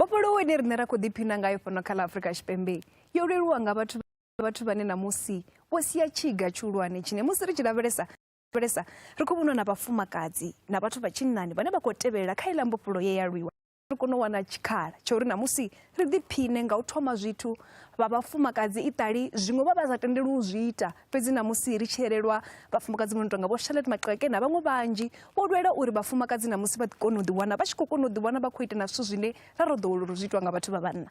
mbofholowo ine riṋe ra khou ḓiphina ngayo fhano kha ḽa afrika tshipembe yo leluwa nga vhathu vhathu vhane ṋamusi vho sia tshiga tshihulwane tshine musi ri tshi lavhelesa lavhelesa ri khou vhonwa na vhafumakadzi na vhathu vha tshinnani vhane vha khou tevhelela kha iḽa mbofholo ye ya lwiwa ri kone u wana tshikhala tsha uri namusi ri ḓiphine nga u thoma zwithu vha vhafumakadzi iṱali zwiṅwe vha vha sa tendeli u zwi ita fhedzi namusi ri tshi elelwa vhafumakadzi vho no tonga vho charlotte maqeke na vhaṅwe vhanzhi vho lwela uri vhafumakadzi namusi vha kone u ḓiwana vha tshi khou kona u ḓiwana vha khou ita na zwithu zwine ra ro ḓowela uri zwi itwa nga vhathu vha vhanna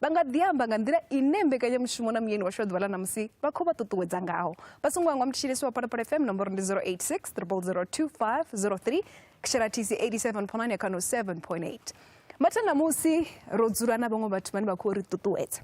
vha nga ḓi amba nga nḓila ine mbekanyamushumo na muyeni washu wa ḓuvha ḽa ṋamusi vha khou vha ṱuṱuwedza ngaho vha songo hangwa mutshilisi wa phalaphala fm nomboro ndi 086 0002503 kshela tc 87.9 ya kano 7.8 mathanda musi ro dzula na vhaṅwe vhathu vhane vha khou ri ṱuṱuwedza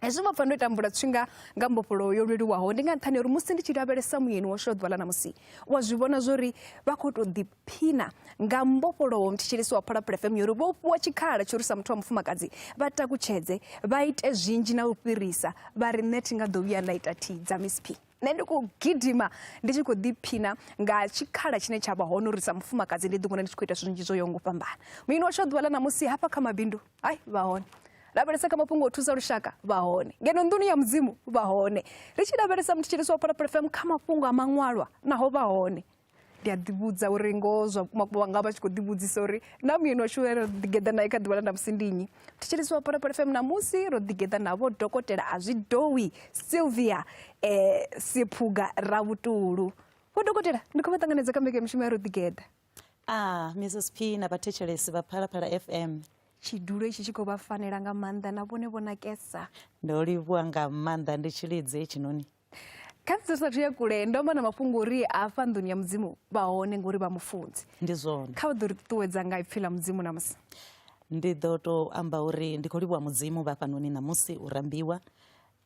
hezwi vha pfa ndo tambula tshifhinga nga mbofholowo yo leluwaho ndi nga nṱhani uri musi ndi tshi lavhelesa muyeni washu wa ḓuvha ḽa ṋamusi wa zwi vhona zwori vha khou tou ḓi phina nga mbofholowo mthetshelesi wa phola pulefemu yo ri vho fhiwa tshikhala tsho ri sa muthu wa mufumakadzi vha takutshedze vha ite zwinzhi na u fhirisa vha ri nṋe thi nga ḓo vhuya nda ita thi dza miss p nṋe ndi khou gidima ndi tshi khou ḓiphina nga tshikhala tshine tsha vha hone uri sa mufumakadzi ndi ḓiwana ndi tshi khou ita zwithu zwinzhi zwo yo ngo fhambana muini washu a ḓuvha ḽa ṋamusi hafha kha mabindu hai vha hone lavhelesa kha mafhungo o thusa lushaka vha hone ngeno nḓuni ya mudzimu vha hone ri tshi lavhelesa mthetshelesi wa phola pulefemu kha mafhungo a maṅwalwa naho vha hone ndi a ḓivhudza uri ngoho zwa vhukuma vha nga vha tshi khou ḓivhudzisa uri na muyeni washu ane ro ḓigeḓa nae kha ḓuvha ḽa ndamusi ndi nnyi thetshelesi wa phalaphala fm ṋamusi ro ḓigeḓa navho dokotela a zwi dowi sylvia um siphuga ravhutulu vho dokotela ndi khou vha ṱanganedza kha mbekanyamushumo ya ro ḓigeḓa Ah, Mrs. P na vhathetshelesi vha Phalaphala FM. tshidulo itshi tshi khou vha fanela nga maanḓa na vhone vho nakesa Ndo livhuwa nga maanḓa ndi tshilidzi hetshinoni. kha musi sathu ya kule ndo amba na mafhungo uri hafha nḓuni ya mudzimu vha hone ngori vha mufunzi ndi zwone kha vha ḓo ri ṱuṱuwedza nga ipfhi ḽa mudzimu namusi ndi ḓo to amba uri ndi khou livhuwa mudzimu vha fhanoni ṋamusi u rambiwa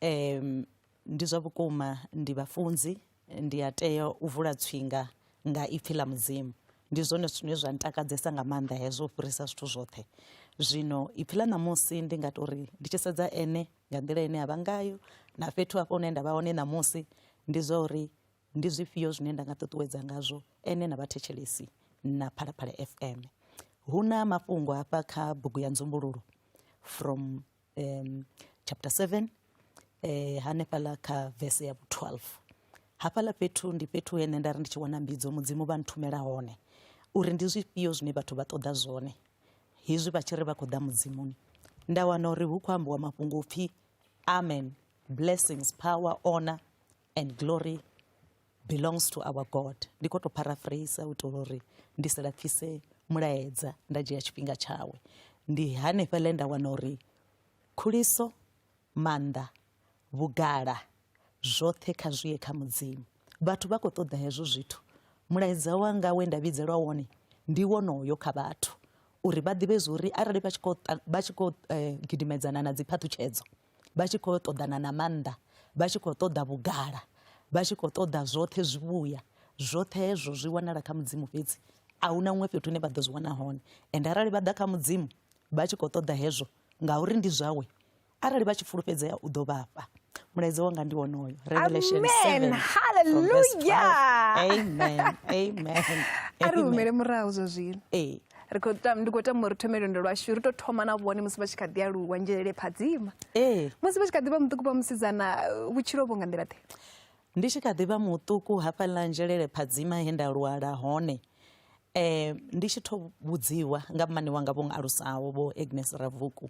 um ndi zwa vhukuma ndi vhafunzi ndi a tea u vula tswinga nga ipfhi ḽa mudzimu ndi zwone zwine zwa ntakadzesa nga maanḓa hezwo u fhirisa zwithu zwoṱhe zwino ipfhi ḽa ṋamusi ndi nga tori ndi tshi sedza ene nga nḓila ine ya vha ngayo na fhethu hafho hune nda vha hone ṋamusi ndi zwa uri ndi zwifhio zwine nda nga ṱuṱuwedza ngazwo ene na vhathetshelesi na phalaphala fm hu na mafhungo hafha kha bugu ya nzumbululo from um, chapter 7 eh, hanefhaḽa kha vese ya 12 hafhaḽa fhethu ndi fhethu hene nda ri ndi tshi wana mbidzo mudzimu vha nthumela hone uri ndi zwifhio zwine vhathu vha ṱoḓa zwone hezwi vha tshi ri vha khou ḓa mudzimuni nda wana uri hu khou ambiwa mafhungo pfhi amen blessings power honor and glory belongs to our god ndi khou tou paraphrase u itela uri ndi si lapfise mulaedza nda dzhia tshifhinga tshawe ndi hanefhaḽe nda wana uri khuliso maanḓa vhugala zwoṱhe kha zwi ye kha mudzimu vhathu vha khou ṱoḓa hezwo zwithu mulaedza wanga we nda vhidzelwa wone ndi wonoyo kha vhathu uri vha ḓivhe zwori arali vha tshi khou vha tshi khou eh, gidimedzana na dziphaṱhutshedzo vha tshi khou ṱoḓana na maanḓa vha tshi khou ṱoḓa vhugala vha tshi khou ṱoḓa zwoṱhe zwivhuya zwoṱhe hezwo zwi wanala kha mudzimu fhedzi a hu na huṅwe fhethu hune vha ḓo zwi wana hone ende arali vha ḓa kha mudzimu vha tshi khou ṱoḓa hezwo ngauri ndi zwawe arali vha tshi fulufhedzea u ḓo vhafha mulaedza wanga ndi wonoyo revelation 7 haleluya amen amen a ri humele murahu zwa zwino ee ri khou tama ndi khou tama uri thome lwendo lwashu ri tou thoma na vhone musi vha tshi kha ḓi aluwa nzhelele phadzima ee musi vha tshi kha ḓi vha muṱuku vha musidzana vhutshilo vho nga nḓila ḓe ndi tshi kha ḓi vha muṱuku hafhaḽa nzhelele phadzima he nda lwala hone um ndi tshi tho vhudziwa nga mmane wanga vho alusaho vho agnes ravuku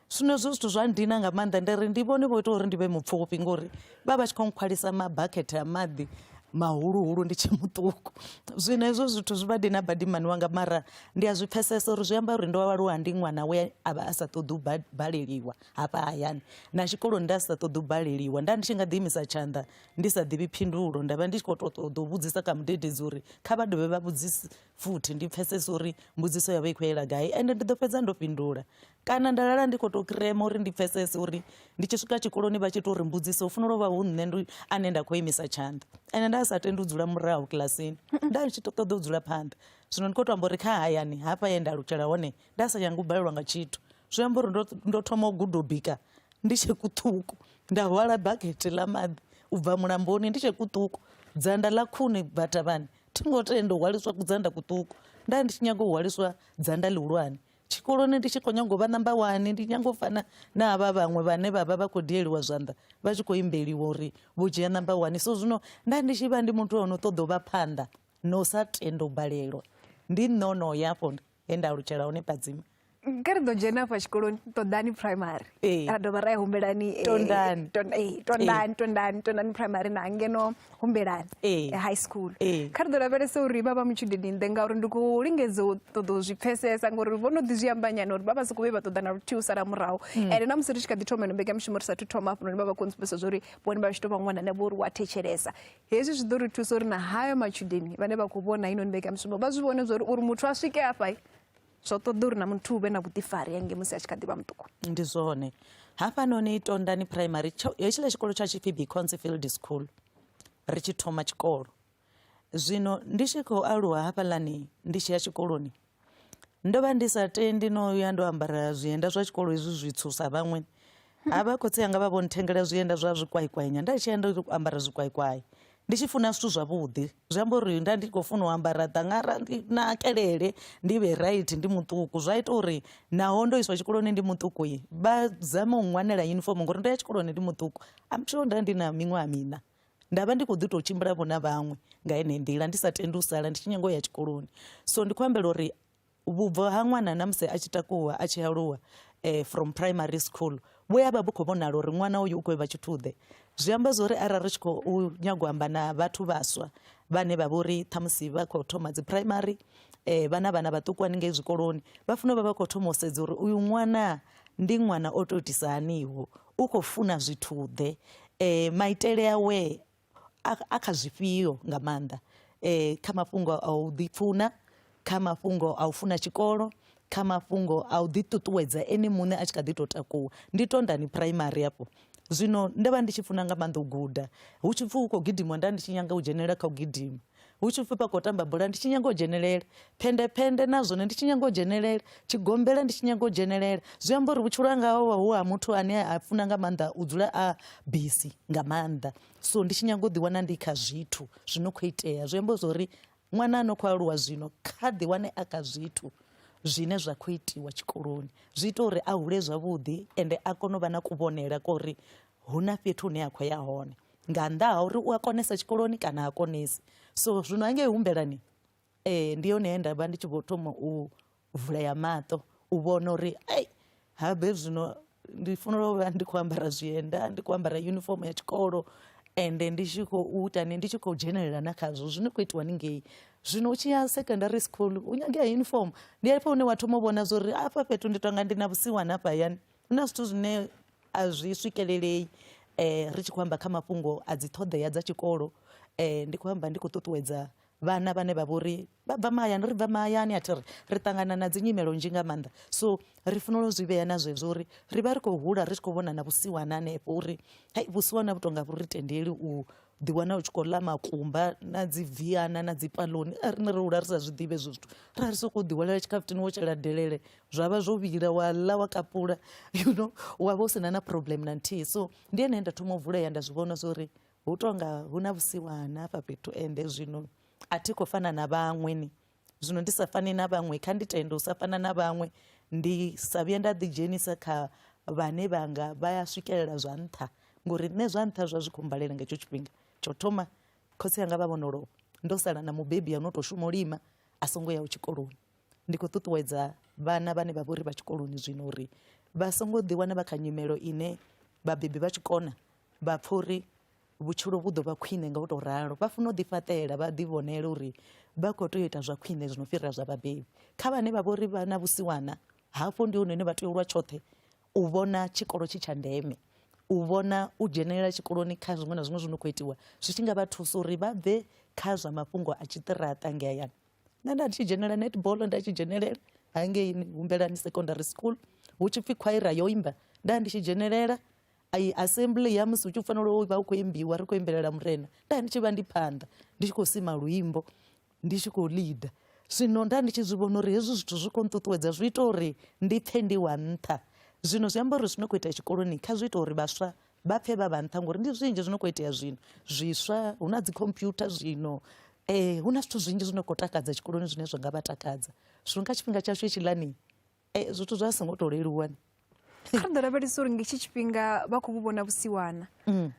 zwino hezwo zwithu zwa ndina nga maanḓa ndi ri ndi vhone vho ita uri ndi vhe mupfufhi ngori vha vha tshi khou nkhwalisa mabakhethe a maḓi mahuluhulu ndi tshe muṱuku zwino hezwo zwithu zwi vha dina badimani wanga mara ndi a zwi pfesesa uri zwi amba uri ndo aluwa ndi ṅwana we a vha a sa ṱoḓi u baleliwa hafha hayani na tshikoloni nda sa ṱoḓi u baleliwa nda ndi tshi nga ḓiimisa tshanḓa ndi sa ḓivhi phindulo nda vha ndi tshi khou to ṱoḓa u vhudzisa kha mudededzi uri kha vha dovhe vha vhudzise futhi ndi pfesesa uri mbudziso yavho i khou yela gai ende ndi ḓo fhedza ndo fhindula kana nda lala ndi khou tou kirema uri ndi pfesese uri ndi tshi swika tshikoloni vha tshi tou ri mbudziso u fanela u vha hu nṋe ndi ane nda khou imisa tshanḓa ende nda sa tendi u dzula murahu kilasini nda ndi tshi ṱoḓa u dzula phanḓa zwino ndi khou tou amba uri kha hayani hafha ye nda lutshela hone nda sa nyanga u balelwa nga tshithu zwi amba uri ndo thoma u guda u bika ndi tshe kuṱuku nda hwala bakete ḽa maḓi u bva mulamboni ndi tshe kuṱuku dzanda ḽa khuni batavhani thi ngo tenda u hwaliswa kudzanda kuṱuku nda ndi tshi nyaga u hwaliswa dzanda ḽihulwane tshikoloni ndi tshi khou nyanga u vha number one ndi nyanga u fana na havha vhaṅwe vhane vha vha vha khou dieliwa zwanḓa vha tshi khou imbeliwa uri vho dzhia number one so zwino nda ndi tshi vha ndi muthu o no ṱoḓa u vha phanḓa no sa tendo balelwa ndi nono ya afho he nda alutshela hone padzima kha ri ḓo dzhena afha tshikoloni ṱoḓani primary ra dovha ra ya humbelani tondani tondani tondani primary na ngeno humbelani Ee. ya high school Ee. kha ri ḓo lavhelesa uri vha vha mutshudeni nnḓe ngauri ndi khou lingedza u ṱoḓa u zwi pfhesesa ngori vho no ḓi zwi amba nyana uri vha vha sokou vhe vha ṱoḓa na luthihi u sala murahu ende na musi ri tshi kha ḓi thoma ino mbekanyamushumo ri sathu thoma hafhanoni vha vha khou ntsupesa zwa uri vhone vha tshi tou vha ṅwana ne vho uri wa thetshelesa hezwi zwi ḓo ri thusa uri na hayo matshudeni vhane vha khou vhona inoni mbekanyamushumo vha zwi vhone zwa uri uri muthu a swike hafha zwo ṱoḓa uri na muthu u vhe na vhuḓifari hange musi a tshi kha ḓi vha muṱuku ndi zwone hafhanoni tondani primary tsho- hetshiḽa tshikolo tsha tshipfi beconsefield school ri tshi thoma tshikolo zwino ndi tshi khou aluwa hafhaḽani ndi tshi ya tshikoloni ndo vha ndi sa tendi no ya ndo ambara zwienda zwa tshikolo hezwi zwitswu sa vhaṅwe ha vha khotsi anga vha vho nthengela zwienda zwa zwikwaikwainya nda tshi enda u ambara zwikwaikwai ndi tshi funa zwithu zwavhuḓi zwi amba uri nda ndi khou funa u ambara ḓangara ndi nakelele ndi vhe right ndi muṱuku zwa ita uri naho ndo iswa tshikoloni ndi muṱuku i vha zame u ṅwanela uniform ngori ndo ya tshikoloni ndi muṱuku am sure nda ndi na miṅwaha mina nda vha ndi khou ḓi tou tshimbila vho na vhaṅwe nga ene nḓila ndi sa tendi u sala ndi tshi nyanga u ya tshikoloni so ndi khou ambela uri vhubvo ha ṅwana na musi a tshi takuwa a tshi aluwa eh, from primary school vhu ya vha vhu khou vhonala uri ṅwana uyu u khou vha tshithuḓe zwi amba zwa uri arali ri tshi khou nyago amba na vhathu vhaswa vhane vha vha uri ṱhamusi vha khou thoma dzi primary eh, vhana vhana vhaṱuku haningei zwikoloni vha funa vha vha khou thoma u sedza uri uyu ṅwana ndi ṅwana o to itisa haniho u khou funa zwithuḓe eh, maitele awe a, a kha zwifhio nga maanḓa eh, kha mafhungo a u ḓipfuna kha mafhungo a u funa tshikolo kha mafhungo a u ḓiṱuṱuwedza ene muṋe a tshi kha ḓi tou takuwa ndi tondani phuraimari afho zwino ndo vha ndi tshi funa nga maanḓa u guda hu tshi pfhi hu khou gidimiwa nda ndi tshi nyanga u dzhenelela kha u gidima hu tshi pfhi vha khou tamba bola ndi tshi nyaga u dzhenelela phendephende na zwone ndi tshi nyaga u dzhenelela tshigombela ndi tshi nyaga u dzhenelela zwi amba uri vhutshilo hanga ho vha hu ha muthu ane a funa nga maanḓa u dzula a bisi nga maanḓa so ndi tshi nyaga u ḓiwana ndi kha zwithu zwi no khou itea zwi amba zwori ṅwana a no khou aluwa zwino kha ḓiwane a kha zwithu zwine zwa khou itiwa tshikoloni zwi ita uri a hule zwavhuḓi ende a kone u vha na kuvhonele kori hu na fhethu hune a khou ya hone nga nnḓa ha uri u a konesa tshikoloni kana ha konesi so zwino hangei humbelani ee eh, ndi yone he nda vha ndi tshi vho thoma u vulea maṱo u vhona uri ei habe zwino ndi fanela u vha ndi khou ambara zwienda ndi khou ambara uniform ya tshikolo ende ndi tshi khou ita ni ndi tshi khou dzhenelela na khazwo zwine khou itiwa ni ngei zwino u tshi ya secondary school u nyangea uniform ndi afho hune wa thoma u vhona zwo uri afha fhethu ndi tonga ndi na vhusiwana hafha hayani hu na zwithu zwine a zwi swikelelei ri tshi khou amba kha mafhungo a dzi ṱhoḓea dza tshikolo ndi khou amba ndi khou ṱuṱuwedza vhana vhane vha vhori vha bva mahayani ri bva mahayani a thi ri ri ṱangana na dzi nyimelo nzhi nga maanḓa so ri fanela u zwi vhea na zwezwo uri ri vha ri khou hula ri tshi khou vhona na vhusiwana hanefho uri hai vhusiwana vhu tonga vhu ri tendeli u ḓiwana u tshi khou ḽa makumba na dzi viana na dzi paloni a rine ro hula ri sa zwi ḓivhe hezwo zwithu ra ri sokou ḓihwalela tshikhafuthini wo tshela delele zwa vha zwo vhila wa ḽa wa kapula you know wa vha u si na na problem na nthihi so ndi ene nda thoma u vulea nda zwi vhona zwo ri hu tonga hu na vhusiwana hafha fhethu ende zwino a thi khou fana na vhaṅwe ni Zwino ndi sa fani na vhaṅwe, kha ndi tende u sa fana na vhaṅwe, ndi sa vhuye nda ḓidzhenisa kha vhane vha nga vha ya swikelela zwa nṱha, ngori nṋe zwa nṱha zwa zwi khou mbalela nga hetsho tshifhinga. Tsha u thoma khotsi anga vha vho no lovha, ndo sala na mubebi a no tou shuma u lima a songo yaho tshikoloni. Ndi khou ṱuṱuwedza vhana vhane vha vha uri vha tshikoloni zwino uri vha songo ḓiwana vha kha nyimelo ine vhabebi vha tshi kona vha pfha uri vhutshilo vhu ḓo vha khwine nga u tou ralo vha funa u ḓifhaṱela vha ḓivhonela uri vha khou tea u ita zwa khwine zwi no fhirela zwa vhabebi kha vhane vha vha uri vha na vhusiwana hafho ndi hone hune vha tea u lwa tshoṱhe u vhona tshikolo tshi tsha ndeme u vhona u dzhenelela tshikoloni kha zwiṅwe na zwiṅwe zwi no khou itiwa zwi tshi nga vha thusa uri vha bve kha zwa mafhungo a tshiṱiraṱa nge hayani nṋe nda tshi dzhenelela netball nda tshi dzhenelela hangei humbelani secondary school hu tshi pfhi khwaira yo imba nda ndi tshi dzhenelela I assembly ya musi hu tshi fanela u vha hu khou imbiwa ri khou imbelela murena nda ndi tshi vha ndi phanḓa ndi tshi khou sima luimbo ndi tshi khou leader zwino nda ndi tshi zwi vhona uri hezwi zwithu zwi khou nṱuṱuwedza zwi ita uri ndi pfhe ndi wa nṱha zwino zwi amba uri zwi no khou itea tshikoloni kha zwi ita uri vhaswa vha pfhe vha vha nṱha ngori ndi zwinzhi zwi no khou itea zwino zwiswa hu na dzikhompyutha zwino um hu na zwithu zwinzhi zwi no khou takadza tshikoloni zwine zwa nga vha takadza zwino kha tshifhinga tshashu hetshiḽani Eh, zwithu zwa songo to leluwa ni kha ḓo lavhelesa uri ngetshi tshifhinga vha khou vhu vhona vhusiwana mm.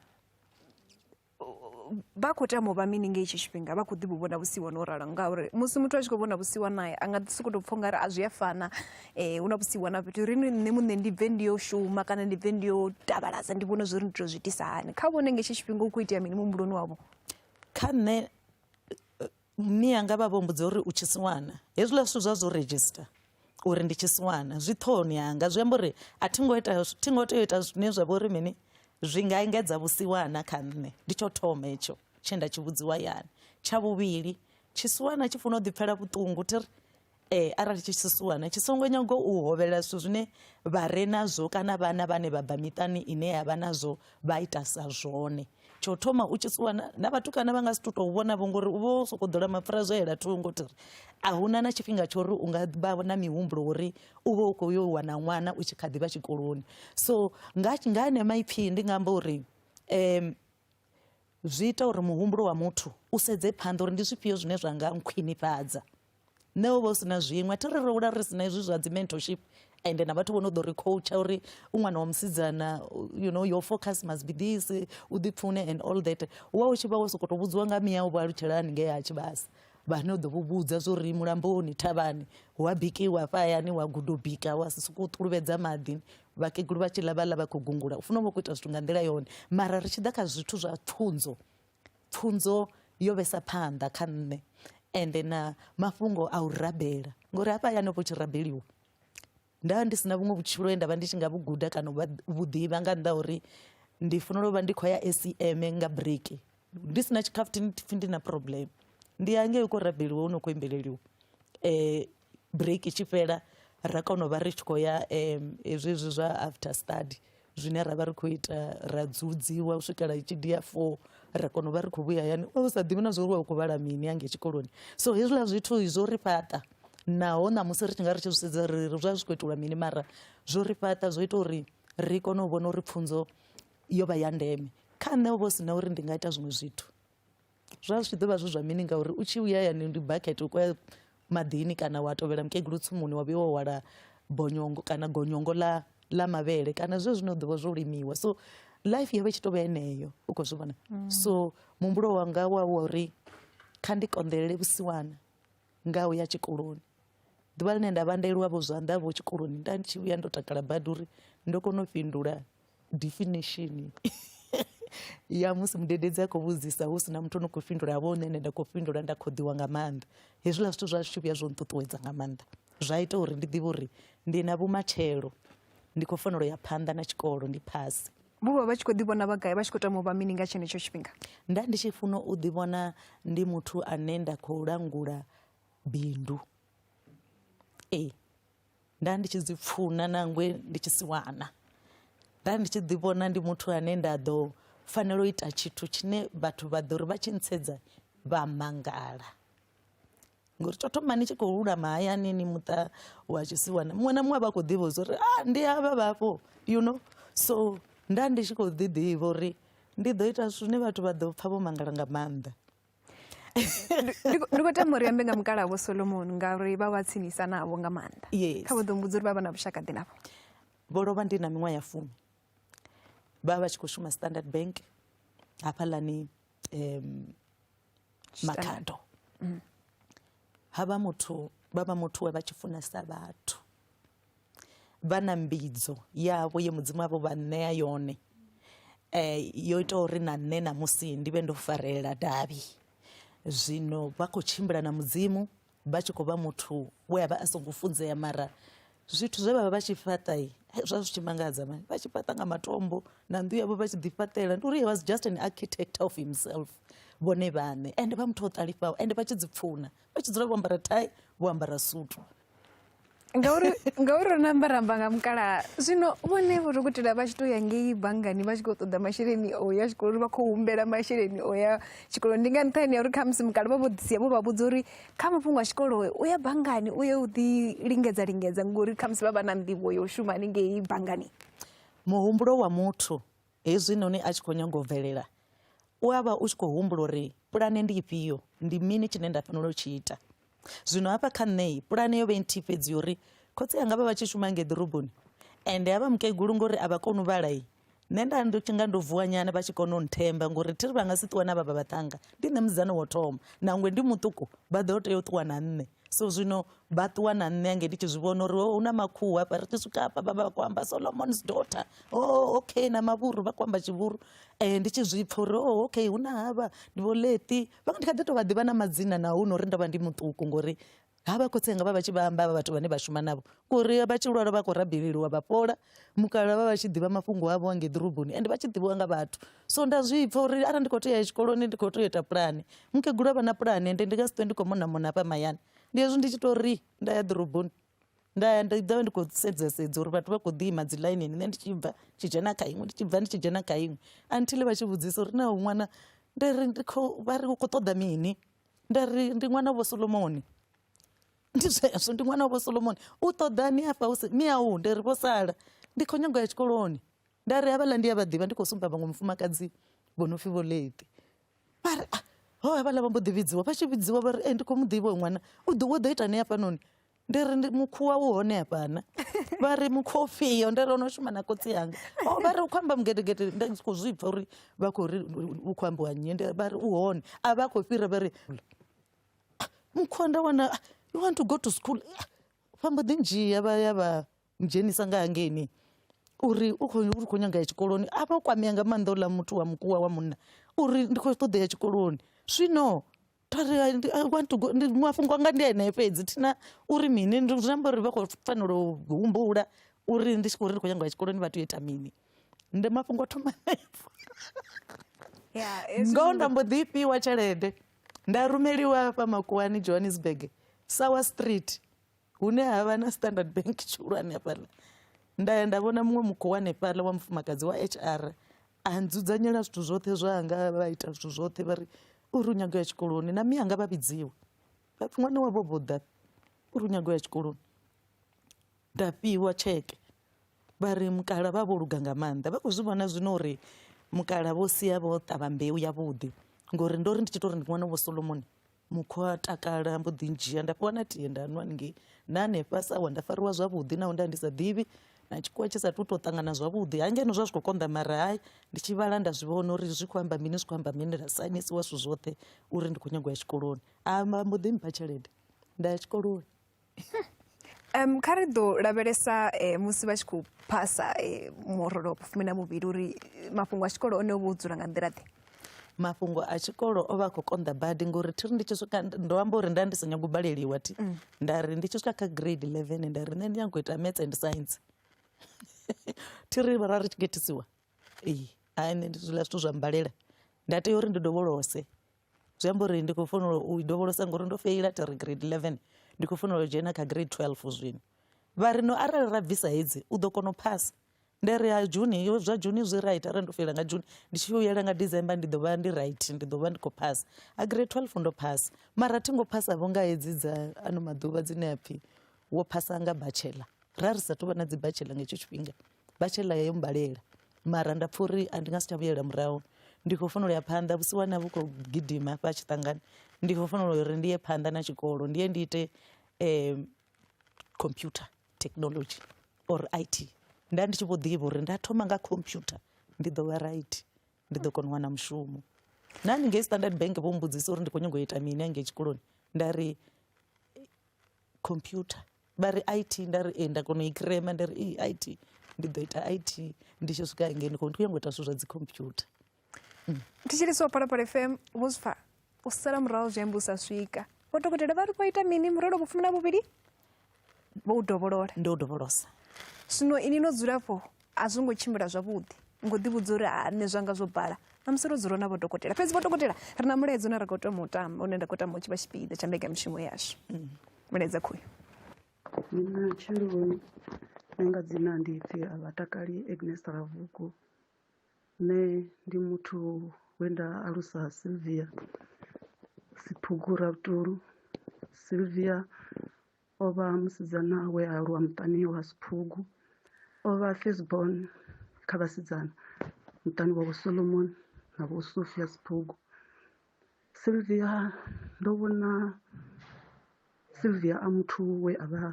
vha khou tama u vha mini ngei itsho tshifhinga vha khou ḓi vhu vhona vhusiwana o ralo ngauri musi muthu a tshi khou vhona vhusiwanae a nga ḓi sokou tou pfha u nga ri a zwi a fana um hu na vhusiwana fhethu ri ni nṋe muṋe ndi bve ndi yo shuma kana ndi bve ndi yo tavhalaza ndi vhone zwo ri ndi tou zwi itisa hani kha vhone ngetsho tshifhinga u khou itea mini muhumbuloni wavho kha nṋe Mme anga vha vho mbudza uri u tshisiwana hezwiḽa zwithu zwa zwo register uri ndi tshisiwana zwi ṱhohoni yanga zwi amba uri a thi ngo ita thi ngo tea u ita zwine zwa vha uri mini zwi nga engedza vhusiwana kha nṋe ndi tsho thoma hetsho tshe nda tshi vhudziwa yani tsha vhuvhili tshisiwana tshi funa u ḓipfela vhuṱungu thi ri Eh, arali tshi tshi suwana tshi songo nyaga u hovhelela zwithu zwine vha re nazwo kana vhana vhane vha bva miṱani ine ya vha nazwo vha ita sa zwone tsho thoma u tshi suwana na vhatukana vha nga si tu tou vhona vho ngori u vha u sokou ḓola mapfura zwo yela thungo tiri a huna na tshifhinga tsho uri u nga vha na mihumbulo uri u vha u khou yo wana ṅwana u tshi kha ḓi vha tshikoloni so nga nga ene maipfhi ndi nga amba uri um zwi ita uri muhumbulo wa muthu u sedze phanḓa uri ndi zwifhio zwine zwa nga nkhwinifhadza nṋe u vha u si na zwiṅwe thi ri ri hula ri si na hezwi zwa dzi mentorship ende na vhathu vho no ḓo ri coacha uri u ṅwana wa musidzana you know your focus must be this u ḓipfune and all that wa u tshi vha wo sokou tou vhudziwa nga miya u vha alutshela haningei ha tshivhasa vhane u ḓo vhu vhudza zwo ri mulamboni thavhani hu a bikiwa hafha hayani wa gudo bika wa si sokou ṱuluvhedza maḓi vhakegulu vha tshi ḽa vhaḽa vha khou gungula u funa u vha khou ita zwithu nga nḓila yone mara ri tshi ḓa kha zwithu zwa pfunzo pfunzo yo vhesa phanḓa kha nṋe ende na mafhungo a u rabela ngori hafha hayani vho tshi rabeliwa nda ndi si na vhuṅwe vhutshilo he nda vha ndi tshi nga vhu guda kana vhu ḓivha nga nnḓa uri ndi fanela u vha ndi khou ya acm nga breki ndi si na tshikhafuthini pfhi ndi na problem ndi ya ngei u khou rabeliwa u no khou imbeleliwa um break tshi fhela ra kona u vha ri tshi khou ya um hezwi hezwi zwa after study zwine ra vha ri khou ita ra dzudziwa u swikela itshi dia four ra kona u vha ri khou vhuya hayani u sa ḓivhi na zwa uri wa u khou vhala mini ange tshikoloni so hezwiḽa zwithu zwo ri fhaṱa naho ṋamusi ri tshi nga ri tshi zwi sedza ri ri zwa zwi khou itelwa mini mara zwo ri fhaṱa zwo ita uri ri kone u vhona uri pfunzo yo vha ya ndeme kha nṋe ho vha hu si na uri ndi nga ita zwiṅwe zwithu Zwa zwi tshi ḓo vha zwi zwa mini ngauri u tshi vhuya hayani ndi bakete u khoya maḓini kana wa tovhela mukegulu tsimuni wa vhuya wa hwala bonyongo kana gonyongo ḽa ḽa mavhele kana zwe zwine u ḓovha zwo limiwa so life yavha i tshi tovha yeneyo u khou zwi vhona mm. so muhumbulo wanga wa wa uri kha ndi konḓelele vhusiwana nga u ya tshikoloni ḓuvha ḽine nda vha nda vho zwanḓa vho tshikoloni nda ndi tshi vhuya ndo takala badi uri ndo kona u fhindula Definition ya musi mudededzi a khou vhudzisa hu si na muthu o no khou fhindula vho nṋe nda khou fhindula nda khoḓiwa nga maanḓa hezwiḽa zwithu zwa zwi vhuya zwo nṱuṱuwedza nga maanḓa zwa ita uri ndi ḓivhe uri ndi na vhumatshelo ndi khou fanela u ya phanḓa na tshikolo ndi phasi vho vha vha tshi khou ḓivhona vha gai vha tshi khou tama u vha mini nga tshenetsho tshifhinga nda ndi tshi funa u ḓivhona ndi muthu ane nda khou langula bindu ee nda ndi tshi dzi pfuna nangwe ndi tshi si wana nda ndi tshi ḓi vhona ndi muthu ane nda ḓo fanela u ita tshithu tshine vhathu vha ḓo ri vha tshi ntsedza vha mangala ngori tsho thoma ni tshi khou lulama hayani ni muṱa wa tshisiwana muṅwe na muṅwe vha khou ḓivha uri a ah, ndi havha vhafho you know so nda ndi tshi khou ḓi ḓivha uri ndi ḓo ita zwithu zwine vhathu vha ḓo pfha vho mangala nga maanḓa ndi kho- ndi khou tama uri ambe nga mukala vho solomoni ngauri vha vha tsinisa navho nga maanḓa Yes. kha vho ḓo mbudza uri vha vha na vhushaka ḓi navho vho lovha ndi na miṅwaha ya fumi vha vha vha tshi khou shuma standard bank hafhaḽani um, makhado ha vha muthu vha vha muthu we vha tshi funesa vhathu vha na mbidzo yavho ye mudzimu avho vha ṋea yone um yo ita uri na nṋe ṋamusi ndi vhe ndo farelela davhi zwino vha khou tshimbila na mudzimu vha tshi khou vha muthu we a vha a songo funzea mara zwithu zwe vha vha vha tshi fhaṱa hei, zwa zwi tshi mangadza mani vha tshi fhaṱa nga matombo na nnḓu yavho vha tshi ḓi fhaṱela ndi uri he was just an architect of himself vhone vhaṋe ende vha muthu o ṱalifhaho ende vha tshi dzi pfuna vha tshi dzula vho ambara thai vho ambara sutu ngauri ngauri ro namba ramba nga mukalaha zwino vhone vho dokotela vha tshi to ya ngei banngani vha tshi khou ṱoḓa masheleni o ya tshikoloni vha khou humbela masheleni o ya tshikoloni ndi nga nṱhani ya uri khamusi mukala vha vho ḓisia vho vha vhudza uri kha mafhungo a tshikolo u ya banngani u ye u ḓi lingedza lingedza ngori khamusi vha vha na nḓivho yo shuma haningei banngani muhumbulo wa muthu Hezwinoni a tshi khou nyanga u bvelela, u a vha u tshi khou humbula uri pulane ndi ifhio, ndi mini tshine nda fanela u tshi ita. Zwino hafha kha nṋe, pulane yo vha i nthihi fhedzi ya uri khotsi anga vha vha tshi shuma ngei ḓoroboni, ende a vha mukegulu ngori a vha koni u vhala. Nṋe nda ndo nga ndo vuwa nyana vha tshi kona u nthemba ngori thi ri vha nga si ṱuwe na vha vha vhaṱhanga, ndi nṋe musidzana wa u thoma, nangwe ndi muṱuku vha ḓo tea u ṱuwa na nṋe. So zwino vha ṱuwa na nṋe ange ndi tshi zwi vhona uri oh, hu na makhuhu hafha ri tshi swika hafha vha vha vha khou amba solomons daughter o oh, okay na mavhuru vha khou amba tshivhuru um ndi tshi zwi pfa uri o oh, okay hu na havha ndi vho leti vha ndi kha ḓi tou vha ḓivha na madzina na hu no uri ndo vha ndi muṱuku ngori ha vha khotsi anga vha vha tshi vha amba vha vhathu vhane vha shuma navho ngori vha tshi lwala vha khou rabeleliwa vha fhola mukala vha vha tshi ḓivha mafhungo avho ange ḓoroboni ende vha tshi ḓivhiwa nga vhathu so nda zwi pfa uri arali ndi khou tea ya tshikoloni ndi khou tea u ita pulane mukegulu a vha na pulane ende ndi nga si ṱwe ndi khou monamona hafha mayani ndi hezwi ndi tshi tou ri nda ya ḓoroboni nda ya nda ḓovha ndi khou sedza sedza uri vhathu vha khou ḓi ima dzi ḽainini nṋe ndi tshi bva tshi dzhena kha iṅwe ndi tshi bva ndi tshi dzhena kha iṅwe until vha tshi vhudzisa uri naho ṅwana nda ri ndi khou vha ri u khou ṱoḓa mini nda ri ndi ṅwana vho solomoni ndi zwezwo ndi ṅwana vho solomoni u ṱoḓani afha hu mi au ndi ri vho sala ndi khou nyanga ya tshikoloni nda ri havhaḽa ndi a vha ḓivha ndi khou sumba vhaṅwe mufumakadzi vho no pfhi vho late vha ri ah, ho havhala vha mbo ḓi vhidziwa vha tshi vhidziwa vha ri e ndi khou mu ḓivha ṅwana u ḓo wo ḓo ita ni hafhanoni ndi ri ndi mukhuwa u hone hafhana vha ri mukhuwa ufhio ndi ri ono shuma na kotsi yanga o vha ri u khou amba mugedegede nda ndi khou zwi pfa uri vha khou ri u khou ambiwa nnyi ndi vha ri u hone a vha khou fhira vha ri ah, mukhuwa nda wana ah, you want to go to school ah, vha mbo ḓi ndzhia vha ya vha dzhenisa nga hangeini uri u khou ri khou nyanga ya tshikoloni a vha o kwamea nga maanḓa uḽa muthu wa mukuwa wa munna uri ndi khou ṱoḓa ya tshikoloni zwino thari i want to go ndi mafhungo anga ndi enea fhedzi thina uri mini ndi zwi amba uri vha khou fanela u humbula uri ndi tshi khou ri ndi khou nyanga ya tshikoloni vha tea u ita mini ndi mafhungo a thoma hanefho ngoho nda mbo ḓi fhiwa tshelede nda rumeliwa hafha makuwani johannesburg sour street hune ha vha na standard bank tshihulwane hafhaḽa nda ya nda vhona muṅwe mukho wa hanefhaḽa wa mufumakadzi wa h r a nzudzanyela zwithu zwoṱhe zwanga vha ita zwithu zwoṱhe vha ri u ri u nyago ya tshikoloni na miyanga vha vhidziwa vha pfi ṅwana wavho vho ḓa u ri u nyago ya tshikoloni nda fhiwa tsheke vha ri mukala vha vho luga nga maanḓa vha khou zwi vhona zwino uri mukala vho sia vho ṱavha mbeu yavhuḓi ngori ndo ri ndi tshi to ri ndi ṅwana vho solomoni Mukhwa a takala mbo ḓi ndzhia nda fhiwa na tie nda nwa haningei na hanefha sa wa nda fariwa zwavhuḓi naho nda ndi sa ḓivhi na tshikhuwa tshi sa tu to ṱangana zwavhuḓi ha ngeno zwa zwi khou konḓa mara hai ndi tshi vhala nda zwi vhona uri zwi khou amba mini zwi khou amba mini ra sainisiwa zwithu zwoṱhe uri ndi khou nyagwa ya tshikoloni a mbo ḓi mpha tshelede nda ya tshikoloni. um kha ri ḓo lavhelesa um musi vha tshi khou phasa eh, murole wa vhufumi na muvhili uri eh, mafhungo a tshikolo one o vha o dzula nga nḓila ḓe mafhungo a tshikolo o vha a khou konḓa badi ngori thiri ndi tshi swika ndo amba uri nda ndi sa nyago u baleliwa thi mm. nda ri ndi tshi swika kha grade eleven nda ri nṋe ndi nyago ita maths and science thiri ra ri tshi getisiwa ee hai nṋe ndi zwiḽa zwithu zwa mbalela nda tea uri ndi dovholose zwi amba uri ndi khou fanela u dovholosa ngori ndo feila thi ri grade eleven ndi khou fanela u dzhena kha grade twelve zwino vha ri no arali ra bvisa hedzi u ḓo kona u phasa nda ri ha juni yo zwa juni zwi right arali ndo feila nga juni ndi tshi yela nga december ndi ḓo vha ndi right ndi ḓo vha ndi khou phasa a grade twelve ndo phasa mara thi ngo phasa vho nga hedzi dza ano maḓuvha dzine a pfhi wo phasa nga bachelor ra ri sa tou vha na dzi bachelor nga hetsho tshifhinga vha tshe laya yo mmbalela mara nda pfha uri a ndi nga si tsha vhuyela murahu ndi khou fanela u ya phanḓa vhusiwana vhu khou gidima hafha tshiṱangani ndi khou fanela uri ndi ye phanḓa na tshikolo ndi ye ndi ite um computer technology or i t nda ndi tshi vho ḓivha uri nda thoma nga computer ndi ḓo vha right ndi ḓo kona u wana mushumo na ni ngei standard bank vho mbudzisa uri ndi khou nyanga u ita mini hangei tshikoloni nda ri computer vha ri it nda ri ee nda kona u i crema nda ri ee it ndi ḓo ita it ndi tshi swika hangei ndi khou ndi khou nyanga u ita zwithu zwa dzi computer ndi tshi lisiwa phalaphala fm vho zwi pfa u sala murahu zwi amba u sa swika vho dokotela vha ri vho ita mini murelo vhufumi na vhuvhili vho u dovholola ndo u dovholosa zwino ini no dzulafho a zwo ngo tshimbila zwavhuḓi ngo ḓi vhudza uri ha nṋe zwanga zwo bala na musi ro dzula na vho dokotela fhedzi vho dokotela ri na mulaedza une ra khou tama u tamba une nda khou tama u tshi vha tshipiḓa tsha mbekanyamushumo yashu mm. vhilaedza khoyu ndi matsheloni nṋe nga dzina ndi pfhi a vha takali Agnes Ravhugu nṋe ndi muthu we nda alusa Sylvia Siphugu Ravhutulu Sylvia o vha musidzana we a aluwa muṱani wa Siphugu o vha first born kha vhasidzana muṱani wa vho Solomon na vho Sophia Siphugu Silvia, Ndo vhona Silvia a muthu we a vha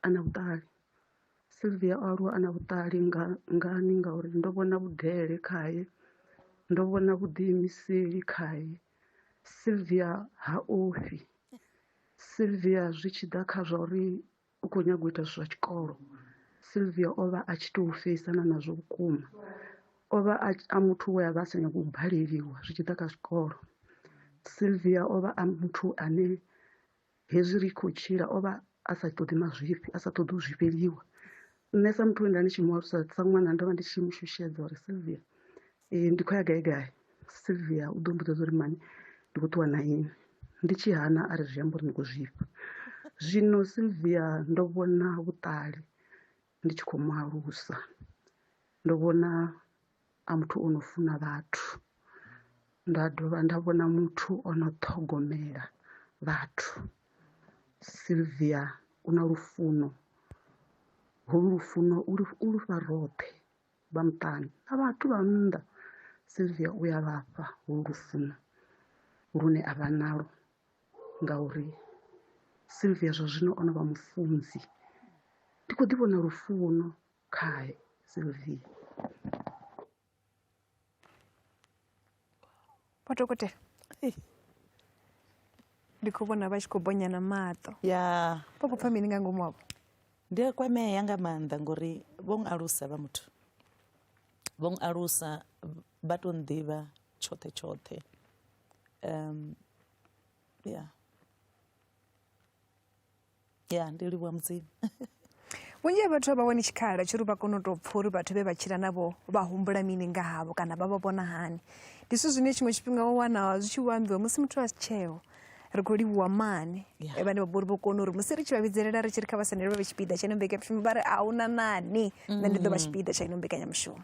a na vhuṱali. Silvia o aluwa a na vhuṱali nga ngani ngauri ndo vhona vhudele khaye ndo vhona vhuḓiimiseli khaye. Silvia ha ofhi, Silvia zwi tshi ḓa kha zwa uri u khou nyaga u ita zwa tshikolo silvia o vha a tshi tou feisana nazwo vhukuma o vha a muthu we a vha a sa nyagi u baleliwa zwi tshi ḓa kha zwikolo silvia o vha a muthu ane hezwi ri khou tshila o vha a sa ṱoḓi mazwifhi a sa ṱoḓi u zwifheliwa nṋe sa muthu we nda ndi tshi mu alusa sa ṅwana ndo vha ndi tshi mu shushedza uri silvia um ndi khou ya gai gai silvia u ḓo mbudzedza uri mani ndi khou ṱuwa na ini ndi tshi hana a ri zwi amba uri ndi khou zwifha zwino silvia ndo vhona vhuṱali ndi tshi khou mu alusa ndo vhona a muthu o no funa vhathu nda dovha nda vhona muthu o no ṱhogomela vhathu Sylvia u na lufuno holu lufuno u lufha roṱhe vha muṱani na vhathu vha nnḓa Sylvia u ya vhafha holu lufuno lune a vha nalo ngauri Sylvia zwa zwino o no vha mufunzi ndi kho ḓi vhona lufuno Kai, Sylvie. Vho dokotela. Ei. Ndi khou vhona vha tshi khou bonya na maṱo. ya Vho khou pfa mini nga ngomu havho? ndi a kwamea nga maanḓa ngori vho ng alusa vha muthu vho ng alusa vha to nḓivha tshoṱhe tshoṱhe um, ya ya ndi livhuwa mudzimu vhunzhi ha vhathu a vha wani tshikhala tshiri vha kone u tou pfha uri vhathu vhe vha tshila navho vha humbula mini nga havho kana vha vha vhona hani ndi zwithu zwine tshiṅwe tshifhinga wa wana zwi tshi vho ambiwa musi muthu a si tsheo ri khou livhuwa mane yeah. vhane vha bori vho kona uri musi ri tshi vha vhidzelela ri tshi ri kha vha sendelwe vhe tshipiḓa tsha ino mbekanyamushumo vha ri a hu na nani nṋe ndi ḓo vha mm. tshipiḓa tsha ino mbekanyamushumo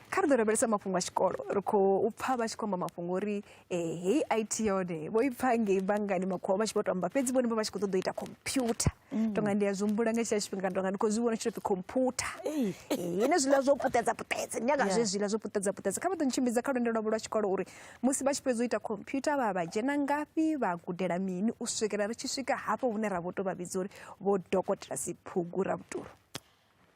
kha ri ḓo lavhelesa mafhungo a tshikolo ri khou pfha vha tshi khou amba mafhungo uri ee hei it yone vho i pfa ngei banngani makhuwa vha tshi vho to amba fhedzi vhone vha vha tshi khou ṱoḓa u ita computer mm. tonga ndi a zwi humbula nga tshila tshifhinga tonga ndi khou zwi vhona tshitopfi computer ine zwiḽa zwo puṱedza puṱedza nyaga zwe zwiḽa zwo puṱedza puṱedza kha vha ḓo ntshimbidza kha lwendo lwavho lwa tshikolo uri musi vha tshi fhedza u ita computer vha vha dzhena ngafhi vha gudela mini u swikela ri tshi swika hafho hune ra vho to vha vhidza uri vho dokotela siphugu ra vhutulu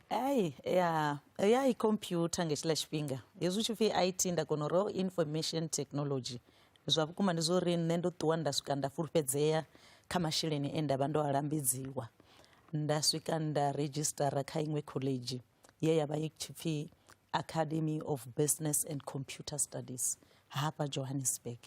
Ai, ya, ya i computer nga tshiḽa tshifhinga hezwi u tshi pfhi IT nda kona uri oh, information technology zwa vhukuma ndi zwo uri nṋe ndo ṱuwa nda swika nda fulufhedzea kha masheleni e nda vha ndo a lambedziwa nda swika nda redzhisitara kha iṅwe khoḽedzhi ye ya vha i tshi pfhi Academy of Business and Computer Studies hafha Johannesburg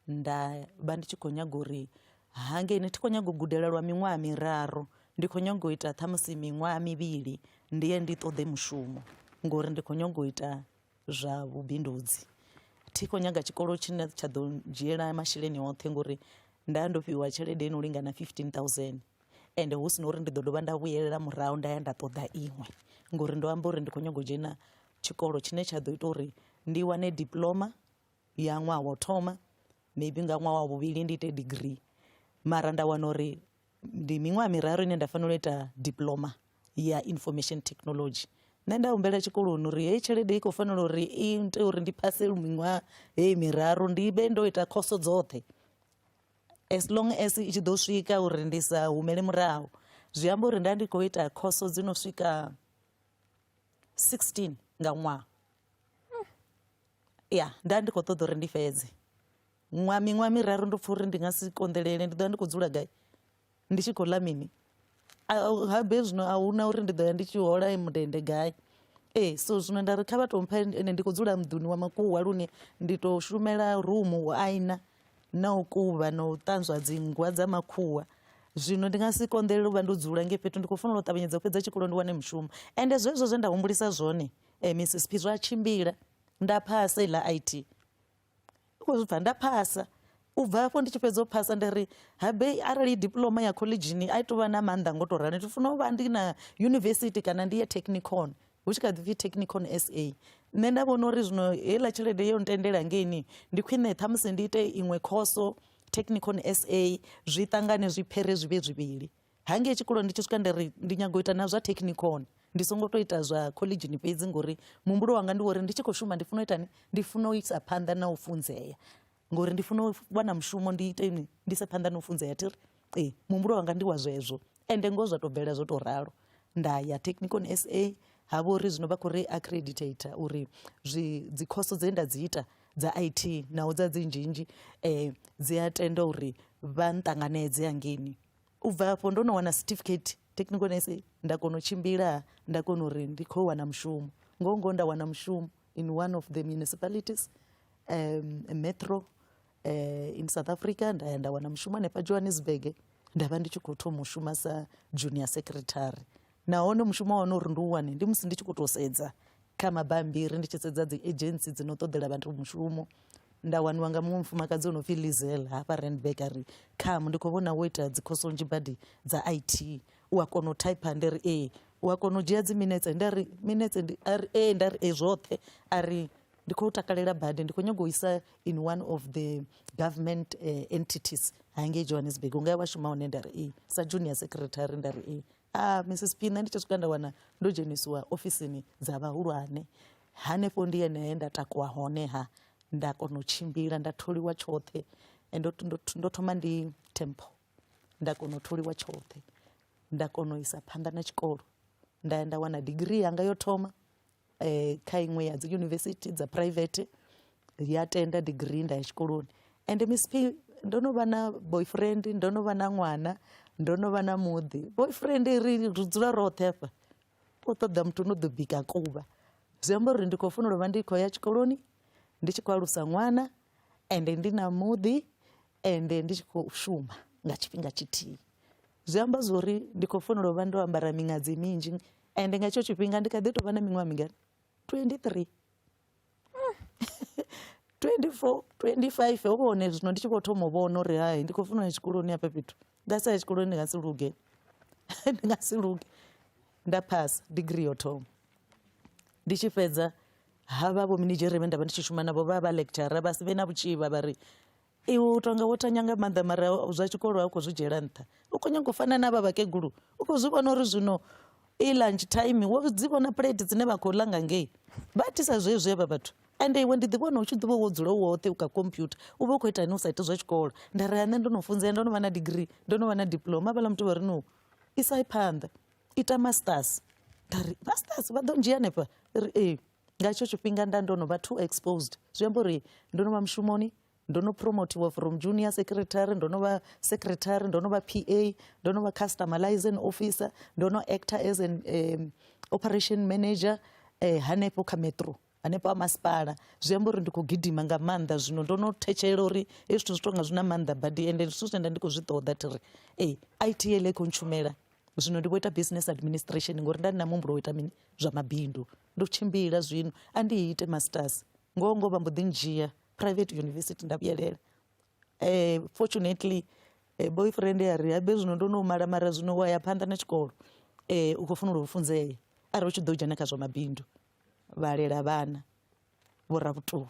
nda vha ndi tshi khou nyaga uri hangei ni thi khou nyaga u gudela lwa miṅwaha miraru ndi khou nyaga u ita ṱhamusi miṅwaha mivhili ndi ye ndi ṱoḓe mushumo ngori ndi khou nyaga u ita zwa vhubindudzi thi khou nyaga tshikolo tshine tsha ḓo dzhiela masheleni oṱhe ngori nda ndo fhiwa tshelede ino lingana fifteen thousand ende hu si na uri ndi ḓo dovha nda vhuyelela murahu nda ya nda ṱoḓa iṅwe ngori ndo amba uri ndi khou nyaga u dzhena tshikolo tshine tsha ḓo ita uri ndi wane diploma ya ṅwaha wa u thoma maybe nga ṅwaha wa vhuvhili ndi ite degree mara nda wana uri ndi miṅwaha miraru ine nda fanela u ita diploma ya information technology nṋe nda humbela tshikoloni uri heyi tshelede i khou fanela uri i ite uri ndi phase miṅwaha heyi miraru ndi vhe ndo ita khoso dzoṱhe as long as i tshi ḓo swika uri ndi sa humele murahu zwi amba uri nda ndi khou ita khoso dzi no swika 16 nga ṅwaha ya nda ndi khou ṱoḓa uri ndi fhedze ṅwa miṅwaha miraru ndo pfha uri ndi nga si konḓelele ndi ḓo ya ndi khou dzula gai ndi tshi khou ḽa mini habe zwino a huna uri ndi ḓo ya ndi tshi hola mundende gai ee so zwino nda ri kha vha tou mpha ene ndi khou dzula muḓuni wa makuwa lune ndi tou shumela rumu u aina na u kuvha na u ṱanzwa dzingwa dza makhuwa zwino ndi nga si konḓelele u vha ndo dzula nge fhethu ndi khou fanela u ṱavhanyedza u fhedza tshikolo ndi wane mushumo ende zwezwo zwe nda humbulisa zwone eh, mrs p zwa tshimbila nda phasa iḽa it u khou zwi pfha nda phasa u bva hafho ndi tshi fhedza u phasa ndi ri habe arali diploma ya khoḽedzhini a i tovha na maanḓa ngo to rali ndi funa u vha ndi na yunivesithi kana ndi ya technicon hu tshi kha ḓi pfhi technicon sa nṋe nda vhona uri zwino heiḽa tshelede yo ntendela ngeini ndi khwine ṱhamusi ndi ite iṅwe khoso technicon sa zwi ṱangane zwi phere zwi vhe zwivhili hangei tshikoloni ndi tshi swika nda ri ndi nyago u ita na zwa technicon ndi songo to ita zwa collegini fhedzi ngori muhumbulo wanga ndi wori ndi tshi khou shuma ndi funa u itani ndi funa u isa phanḓa na u funzea ngori ndi funa u wana mushumo ndi ite ni ndi se phanḓa na u funzea thiri ee muhumbulo wanga ndi wa zwezwo ende ngoho zwa to bvela zwo to ralo nda ya technicon sa ha vha uri zwino vha khou ri accreditator uri zwi dzi khoso dze nda dzi ita dza it naho dza dzi nzhinzhi um dzi a tenda uri vha nṱanganedze hangeni u bva afho ndo no wana certificate technical nursing nda kona u tshimbila nda kona uri ndi khou wana mushumo ngoho ngoho nda wana mushumo in one of the municipalities um, metro uh, in south africa nda ya nda wana mushumo hanefha johannesburg nda vha ndi tshi khou thoma u shuma sa junior secretary nahone mushumo wa hone uri ndi u wane ndi musi ndi tshi khou tou sedza kha mabambiri ndi tshi sedza dzi agency dzi no ṱoḓela vhathu mushumo nda waniwa nga muṅwe mufumakadzi o no pfhi lizel hafha randburg a ri kham ndi khou vhona wo ita dzi khosonzhi badi dza i t u a kona u type ndi ri ee u a kona u dzhia dzi minetse nda ri minetse a ri ee nda ri ee zwoṱhe a ri ndi khou takalela badi ndi khou nyanga u isa in one of the government uh, entities hangei johannesburg unga ya vhashuma hone nda ri ee sa junior secretary nda ri ee Ah, Mrs P nṋe ndi tshi swika nda wana ndo dzhenisiwa ofisini dza vhahulwane hanefho ndi yenehe nda takuwa hone ha nda kona u tshimbila nda tholiwa tshoṱhe Eh, ndo, ndo, ndo thoma ndi temple nda kona u tholiwa tshoṱhe nda kona u isa phanḓa na tshikolo nda ya nda wana degree yanga yo thoma um kha iṅwe ya dzi yunivesithi dza private ya tenda degree nda ya tshikoloni ende miss p ndo no vha na boyfriend ndo no vha na ṅwana ndo no vha na muḓi boyfriend ri ri dzula roṱhe afha u ṱoḓa muthu no ḓo bika kuvha zwi amba uri ndi khou fanela u vha ndi khou ya tshikoloni ndi tshi khou alusa ṅwana ende ndi na muḓi ende ndi tshi khou shuma nga tshifhinga tshithihi zwi amba zwori ndi khou fanela u vha ndo ambara miṅadzi minzhi Ende nga hetsho tshifhinga ndi kha ḓi tovha na miṅwaha mingana 23 24 25 hovha hone zwino ndi tshi vho thoma u vhona uri hai ndi khou funa ya tshikoloni hafha fhethu nga sa ya tshikoloni ndi nga si luge ndi nga si luge nda phasa degree yo thoma ndi tshi fhedza havha vho minidzhere vhe nda vha ndi tshi shuma navho vha vha lecturer vha si vhe na vhutshivha vha ri iwe u tonga wo tanya nga maanḓa mara zwa tshikolo a u khou zwi dzhiela nṱha u khou nyanga u fana na vha vhakegulu u khou zwi vhona uri zwino i lunch time wo dzi vhona plate dzine vha khou ḽa nga ngei vha thisa zwezwi avha vhathu ende iwe ndi ḓi vhona u tshi ḓivha wo dzula woṱhe u kha computer u vha u khou ita ni u sa iti zwa tshikolo nda ri nṋe ndo no funzea ndo no vha na degree ndo no vha na diploma vhala muthu vha ri no isa phanḓa ita masters nda ri masters vha ḓo ndzhia hanefha ri ee nga hetsho tshifhinga nda ndo no vha too exposed zwi amba uri ndo no vha mushumoni ndo no promotiwa from junior secretary ndo no vha secretary ndo no vha pa ndo no vha customer liaison officer ndo no actor as an um, operation manager eh, hanefho kha metro hanefho a masipala zwi amba uri ndi khou gidima nga maanḓa zwino ndo no thetshelela uri hezwi zwithu zwi tonga zwi na maanḓa badi ende zwithu zwine nda ndi khou zwi ṱoḓa thi ri e i t ele khou ntshumela zwino ndi vho ita business administration ngori nda ndi na muhumbulo wo ita mini zwa mabindu ndo tshimbila zwino a ndi ite masters ngoho ngoho vha mbo ḓi ndzhia private university nda vhuyelela um fortunately eh, boyfriend a ri habe zwino ndo no mala mara zwino wa ya phanḓa na tshikolo um u khou funela u funzea arali u tshi ḓo dzhena kha zwa mabindu vhalela vhana vhoravhutulu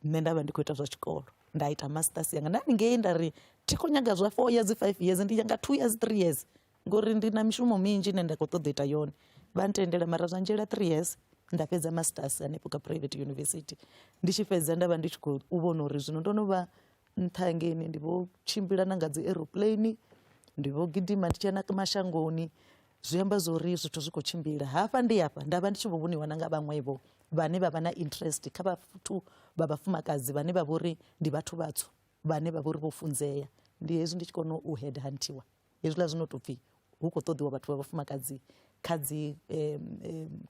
nṋe nda vha ndi khou ita zwa tshikolo nda ita masters yanga nda ningei nda ri thi khou nyaga zwa four years five years ndi yanga two years three years ngori ndi na mishumo minzhi ine nda khou ṱoḓa u ita yone vha ntendela mara zwa nzhela three years nda fhedza masters hanefho kha private university ndi tshi fhedza nda vha ndi tshi khou vhona uri zwino ndo no vha nṱha ngeni ndi vho tshimbila na nga dzi aeroplane ndi vho gidima ndi tshi ya na mashangoni zwi amba zwori zwithu zwi khou tshimbila hafha ndi hafha nda vha ndi tshi vho vhoniwa na nga vhaṅwevho vhane vha vha na interest kha vhathu vha vhafumakadzi vhane vha vhori ndi vhathu vhatswu vhane vha vhori vho funzea ndi hezwi ndi tshi kona u head huntiwa hezwiḽa zwi no tou pfhi hu khou ṱoḓiwa vhathu vha vhafumakadzi kha dzi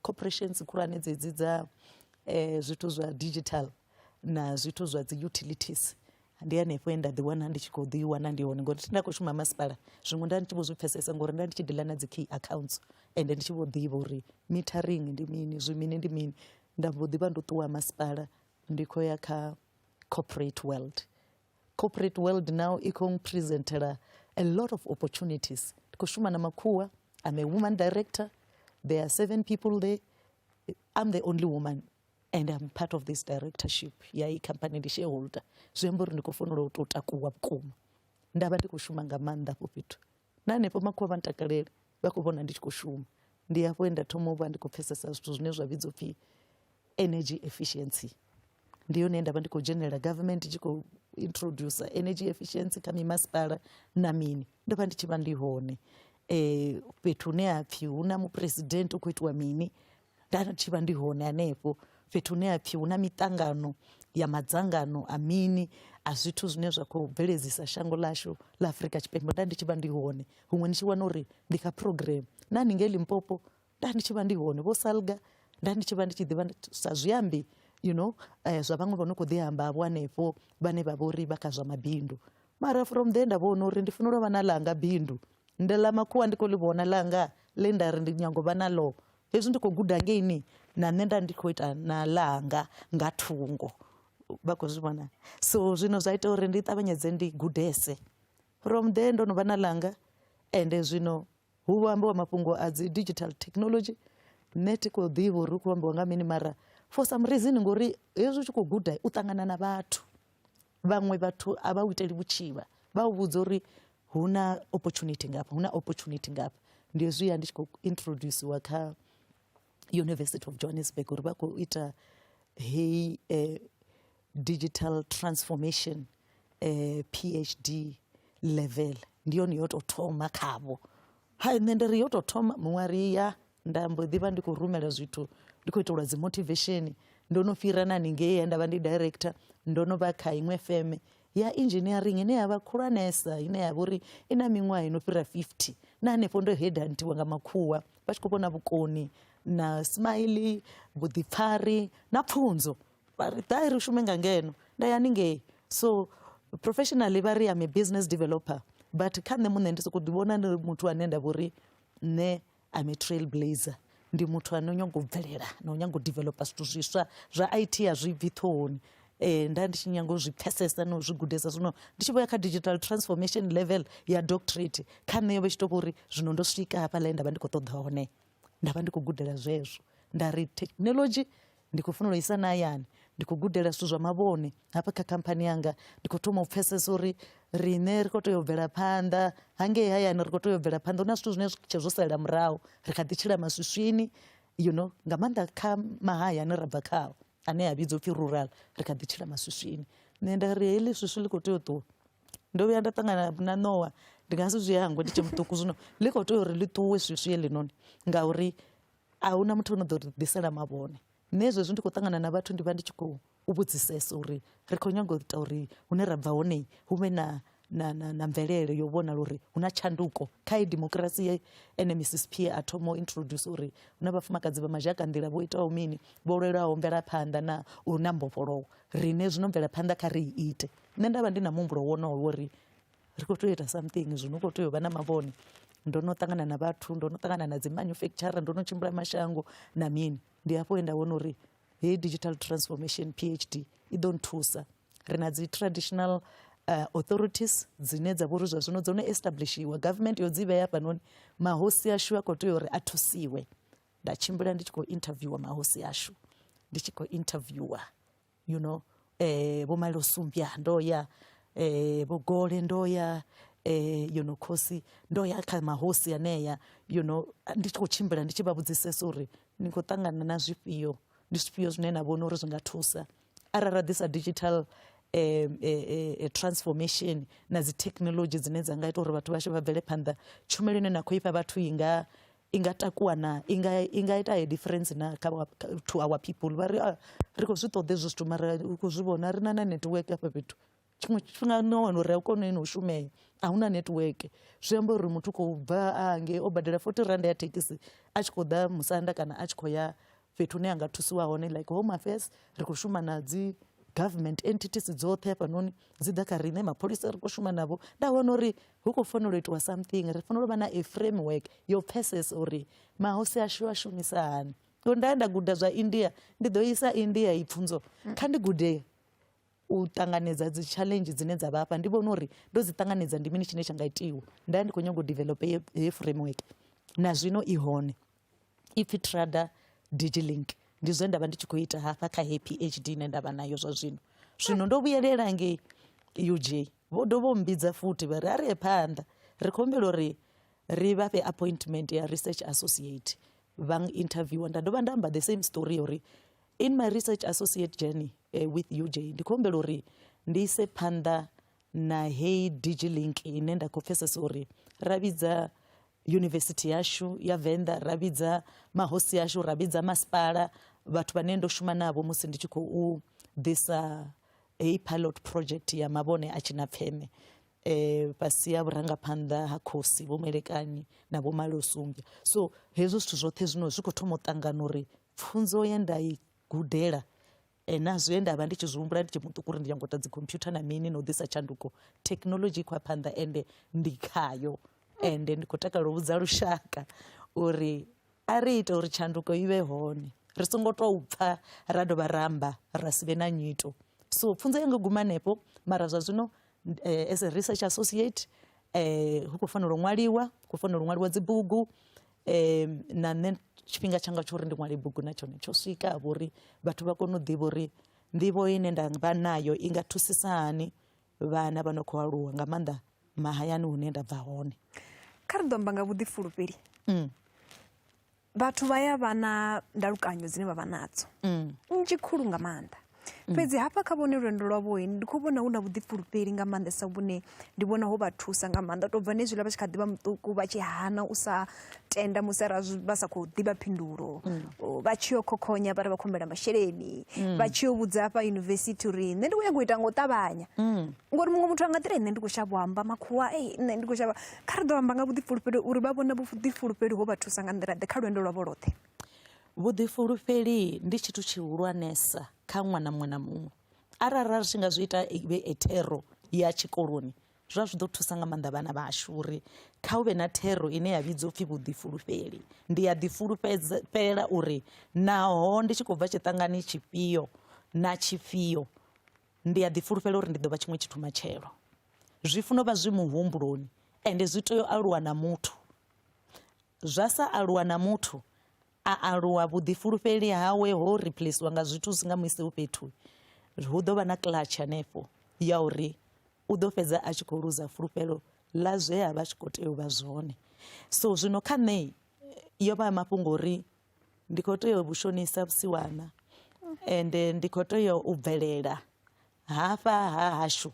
corporations khulwane dzedzi dza um zwithu zwa digital na zwithu zwa dzi utilities ndi hanefho he nda ḓi wana ndi tshi khou ḓi wana ndi hone ngori nda khou shuma masipala zwiṅwe nda ndi tshi vho zwi pfesesa ngori nda ndi tshi ḓi ḽa na dzi key accounts ende ndi tshi vho ḓivha uri mithering ndi mini zwi mini ndi mini nda mbo ḓi vha ndo ṱuwa masipala ndi khou ya kha corporate world corporate world now i khou presentela a lot of opportunities ndi khou shuma na makhuwa i'm a woman director there are seven people there i'm the only woman and i'm part of this directorship ya i company ndi shareholder zwi amba uri ndi khou fanela u tou takuwa vhukuma nda vha ndi khou shuma nga maanḓa afho fhethu na hanefho makhulu vha ntakalele vha khou vhona ndi tshi khou shuma ndi hafho he nda thoma u vha ndi khou pfhesesa zwithu zwine zwa vhidzwa pfhi energy efficiency ndi yone nda vha ndi khou dzhenelela government tshi khou introduce energy efficiency kha mimasipala na mini ndo vha ndi tshi vha ndi hone um fhethu hune ha pfhi hu na muphuresidennde u khou itiwa mini nda tshi vha ndi hone hanefho fhethu hune ha pfhi hu na miṱangano ya madzangano a mini a zwithu zwine zwa khou bveledzisa shango ḽashu ḽa Afurika Tshipembe nda ndi tshi vha ndi hone huṅwe ni tshi wana uri ndi kha program na haningei Limpopo nda ndi tshi vha ndi hone vho Salga nda ndi tshi vha ndi tshi ḓivha sa zwiambi you know eh, zwa vhaṅwe vha no khou ḓi amba vho hanefho vhane vha vhori vha kha zwa mabindu mara from there nda vhona uri ndi fanela u vha na langa bindu Ndi ḽa makhuwa ndi kho ḽi vhona ḽanga ḽe nda ri ndi nyago vha naḽo hezwi ndi kho guda ngeini na nṋe nda ndi kho ita na ḽanga nga thungo vha khou zwi vhona so zwino zwa ita uri ndi ṱavhanyedze ndi gudese from there ndo no vha na ḽanga ende zwino hu vho ambiwa mafhungo a dzi digital technology nṋe thi khou ḓivha uri hu khou ambiwa nga mini mara for some reason ngori hezwi u tshi khou guda u ṱangana na vhathu. vhaṅwe vhathu a vha u iteli vhutshivha vha u vhudza uri hu na opportunity ngafha hu na opportunity ngafha ndi zwi ya ndi tshi khou introduciwa kha university of johannesburg uri vha khou ita heyi eh, digital transformation eh, phd level ndi yone yo tou thoma khavho ha nṋe ndi ri yo tou thoma muṅwe a ri ya nda mbo ḓi vha ndi khou rumela zwithu ndi khou itelwa dzi motivation ndo no fhira na haningei nda vha ndi director ndo no vha kha iṅwe feme ya engineering ine ya vha khulwanesa ine ya vha uri i na miṅwaha i no fhira 50 na hanefho ndo hedantiwa nga makhuwa vha tshi khou vhona vhukoni na smiley vhuḓipfari na pfunzo vha ri ḓai ri shume nga ngeno nda ya ningei so professionally vha ri am a business developer but kha nṋe muṋe ndi sokou ḓivhona ndi muthu ane nda vhori nṋe I'm a trail blazer ndi muthu ane o nyaga u bvelela na u nyaga u developer zwithu zwiswa zwa IT a zwi bvi ṱhohoni eh nda ndi tshi nyanga u zwi pfesesa na u zwi gudesa zwino ndi tshi vho ya kha digital transformation level ya doctorate kha nṋe yo vha tshi to vhori zwino ndo swika hafha ḽe nda vha ndi kho ṱoḓa hone nda vha ndi kho gudela zwezwo nda ri technology ndi khou fanela u isa na hayani ndi khou gudela zwithu zwa mavhone hafha kha khamphani yanga ndi khou thoma u pfesesa uri riṋe ri khou tea u bvela phanḓa hangei hayani ri khou tea u bvela phanḓa hu na zwithu zwine tshe zwo salela murahu ri kha ḓi tshila maswiswini you know nga maanḓa kha mahaya ane ra bva khao ane a vhidzwa upfhi rural ri kha ḓi tshila maswiswini nṋe nda ri heḽi swiswi ḽi khou tea u ṱuwa ndo vhuya nda ṱangana na nowa ndi nga si zwi hangwe ndi tshe muṱuku zwino ḽi khou tea uri ḽi ṱuwe swiswi heḽinoni ngauri a hu na muthu o no ḓo ri ḓisela mavhone nṋe zwezwi ndi khou ṱangana na vhathu ndi vha ndi tshi khou vhudzisesa uri ri khou nyanga u ita uri hune ra bva hone hu vhe na na na na mvelele yo vhonala uri hu na tshanduko kha i demokirasi ye ene mrs p a thoma u introduce uri hu na vhafumakadzi vha mazhaka nḓila vho itaho mini vho lwelaho mvelaphanḓa na uri na mbofholowo rine zwino mvelaphanḓa kha ri i ite nṋe nda vha ndi na muhumbulo wonowo uri ri khou tea u ita something zwino u khou tea u vha na mavhone ndo no ṱangana na vhathu ndo no ṱangana na dzi manufacturer ndo no tshimbila mashango na mini ndi hafho he nda vhona uri heyi digital transformation phd i ḓo nthusa ri na dzi traditional uh, authorities dzine dza vhori zwa zwino dzo no establishiwa government yo dzi vhea hafhanoni mahosi ashu a khou tea uri a thusiwe nda tshimbila ndi tshi khou interviewer mahosi ashu ndi tshi khou interviewer you know eh vho malo sumbya ndo ya eh vho gole ndo ya eh you know khosi ndo ya kha mahosi aneya you know ndi tshi kho tshimbila ndi tshi vha vhudzisesa uri ni kho tangana na zwifhio ndi zwifhio zwine na vhona uri zwi nga thusa arali ra ḓisa digital eh, eh, eh, eh transformation na dzi technology dzine dza nga ita uri vhathu vhashu vha bvele phanḓa tshumelo ine na khou ifha vhathu i nga i nga takuwa na i nga i nga ita a difference na kha to our people vha ri ah, ri khou zwi ṱoḓa hezwo zwithu mara u khou zwi vhona ri na na network afha fhethu tshiṅwe tshifhinga no wana uri a u kone no u shumea a hu na network zwi amba uri muthu khou bva a ngei o badela forty rand ya thekhisi a tshi khou ḓa musanda kana a tshi khou ya fhethu hune a nga thusiwa hone like home affairs ri khou shuma na dzi government entities dzoṱhe hafhanoni dzi ḓa kha riṋe mapholisa ri khou shuma navho nda vhona uri hu khou fanela u itiwa something ri fanela u vha na a framework yo pfesesa uri mahosi ashu a shumisa hani ngo nda ya nda guda zwa india ndi ḓo isa india i pfunzo kha ndi gude u ṱanganedza dzi challenge dzine dza vha afha ndi vhona uri ndo dzi ṱanganedza ndi mini tshine tsha nga itiwa nda ya ndi khou nyanga u develope he framework na zwino i hone ipfi Trada Digilink ndi zwe nda vha ndi tshi khou ita hafha kha heyi PhD ine nda vha nayo zwa zwino zwino ndo vhuyelela ngei UJ vho dovha u mbidza futhi vha ri a rie phanḓa ri khou humbela uri ri vha fhe appointment ya research associate vha interviewer nda dovha nda amba the same story uri in my research associate journey uh, with UJ ndi khou humbela uri ndi ise phanḓa na heyi digilink ine nda khou pfesesa uri ra vhidza yunivesithi yashu ya venḓa ra vhidza mahosi ashu ra vhidza masipala vhathu vhane ndo shuma navho musi ndi tshi khou ḓisa heyi pilot project ya mavhone a tshina pfeme eh fhasi ya vhurangaphanḓa ha khosi vho mwelekanyi na vho malosumbya so hezwo zwithu zwoṱhe zwino zwi khou thoma u ṱangana uri pfunzo ye nda i gudela na zwe nda vha ndi tshi zwi humbula ndi tshi muṱuku uri ndi nyango ita dzi computer na mini na u ḓisa tshanduko thekhinolodzhi i khou ya phanḓa ende ndi khayo ende ndi khou takalela u vhudza lushaka uri a ri ite uri tshanduko i vhe hone ri songo tou pfha ra dovha ra amba ra si vhe na nyito so pfunzo yanga guma hanefho mara zwa zwino eh, as a research associate eh, hu khou fanela u ṅwaliwa khou fanela u ṅwaliwa dzibugu um na nṋe tshifhinga tshanga tsho uri ndi ṅwale bugu na tshone tsho swika ha vhori vhathu vha kone u ḓivha uri nḓivho ine nda vha nayo i nga thusisa hani vhana vha no khou aluwa nga maanḓa mahayani hune nda bva hone kha ri ḓo amba nga vhuḓifulufheli mm. vhathu vha ya vha na ndalukanyo dzine vha vha nadzo mm. nnzhi khulu nga maanḓa Mm. fhedzi hafha kha vhone lwendo lwavho ndi khou vhona hu na vhuḓifulufheli nga maanḓesa vhune ndi vhona ho vha thusa nga maanḓa tou bva nezwiḽa vha tshi kha ḓivha muṱuku vha tshi hana u sa tenda musi ara vha sa khou ḓivha phindulo mm. vha tshi yo khokhonya vha ri vha khombela masheleni mm. vha tshi yo vhudza hafha yunivesithi uri nṋe ndi khou nyanga u ita nga u ṱavhanya ngori muṅwe muthu a nga ḓira nṋe ndi khou shavha u amba makhuwa e nṋe ndi khou shavha kha ri ḓo amba nga vhuḓifulufheli uri vha vhona vhuḓifulufheli ho vha thusa nga nḓila ḓe kha lwendo lwavho lwoṱhe Vhuḓifulufheli ndi tshithu tshihulwanesa kha ṅwana muṅwe na muṅwe arali ra tshi nga zwi ita ivhe e thero ya tshikoloni zwa zwi ḓo thusa nga maanḓa vhana vhashu uri kha hu vhe na thero ine ya vhidzwa upfhi vhuḓifulufheli ndi a ḓifulufhela uri naho ndi tshi khou bva tshiṱangani tshifhio na tshifhio ndi a ḓifulufhela uri ndi ḓo vha tshiṅwe tshithu matshelo zwi funa u vha zwi muhumbuloni ende zwi tea u aluwa na muthu Zwa sa aluwa na muthu a aluwa vhuḓifulufheli hawe ho replaciwa nga zwithu zwi nga mu ise fhethu, hu ḓo vha na clutch hanefho ya uri u ḓo fhedza a tshi khou luza fulufhelo ḽa zwe a vha a tshi khou tea u vha zwone. So zwino kha nṋe yo vha mafhungo uri ndi khou tea u vhu shonisa vhusiwana ende ndi khou tea u bvelela hafha ha hashu.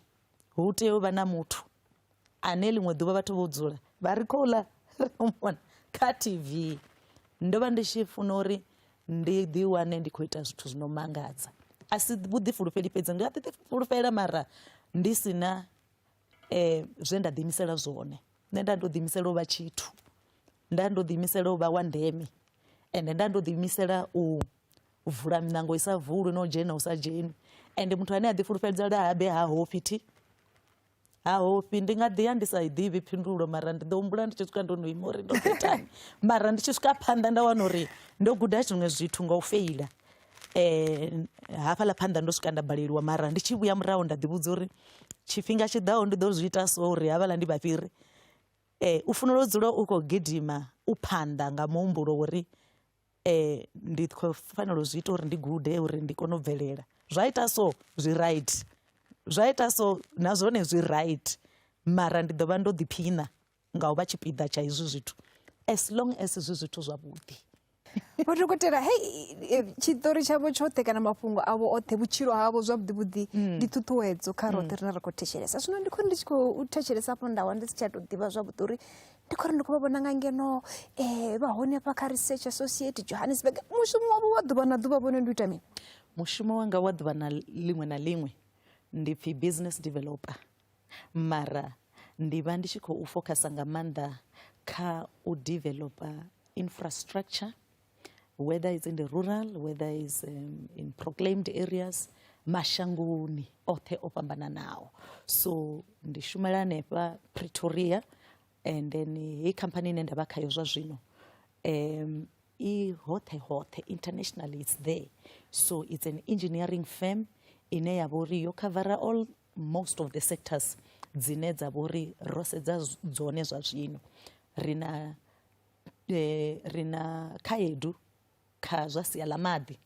Hu tea u vha na muthu ane ḽiṅwe ḓuvha vhathu vho dzula vha ri khou ḽa mona kha TV ndo vha ndi tshi funa uri ndi ḓi wane ndi khou ita zwithu zwi no mangadza a si vhuḓifulufheli fhedzi ndi a ḓi fulufhela mara ndi si na um zwe nda ḓiimisela zwone nṋe nda ndo ḓiimisela u vha tshithu nda ndo ḓiimisela u vha wa ndeme ende nda ndo ḓiimisela u u vula miṋango i sa vulwi no dzhena u sa dzheni ende muthu ane a ḓi fulufhedza lwa habe ha hofhi thi ha hofhi ndi nga ḓi ya ndi sa i ḓivhi phindulo mara ndi ḓo humbula ndi tshi swika ndo no ima uri ndo khethani mara ndi tshi swika phanḓa nda wana uri ndo guda zwiṅwe zwithu nga u feila um hafhaḽa phanḓa ndo swika nda baleliwa mara ndi tshi vhuya murahu nda ḓi vhudza uri tshifhinga tshi ḓaho ndi ḓo zwi ita so uri havhaḽa ndi vhafhiri um u funela u dzula u khou gidima u phanḓa nga muhumbulo wori ndi khou fanela u zwi ita uri ndi gude uri ndi kone u bvelela, zwa ita so zwi right, zwa ita so na zwone zwi right mara ndi ḓo vha ndo ḓiphina nga u vha tshipiḓa tsha hezwi zwithu as long as zwi zwithu zwavhuḓi. Vho dokotela hei tshiṱori tshavho tshoṱhe kana mafhungo avho oṱhe vhutshilo havho zwavhuḓi vhuḓi mm. ndi ṱhuṱhuwedzo kha roṱhe mm. rine ra khou thetshelesa zwino ndi khou ndi tshi khou thetshelesa afho ndawa ndi si tsha tou ḓivha zwavhuḓi uri ndi khou ri ndi khou vha vhona nga ngeno um vha hone hafha kha research associate johannesburg mushumo wavho wa ḓuvha na ḓuvha vhone ndi u ita mini mushumo wanga wa ḓuvha na ḽiṅwe na ḽiṅwe ndi pfhi business developer mara ndi vha ndi tshi khou focusa nga maanḓa kha u developer infrastructure whether it's in the rural whether is um, in proclaimed areas mashangoni oṱhe o fhambananaho so ndi shumela hanefha pretoria and then heyi company ine nda vha khayo zwa zwino um, i hoṱhe hoṱhe internationally it's there so it's an engineering firm ine ya vha uri yo covera all most of the sectors dzine dza vha uri ro sedza dzone zwa zwino ri na Eh, ri na khaedu kha zwa sia ḽa maḓi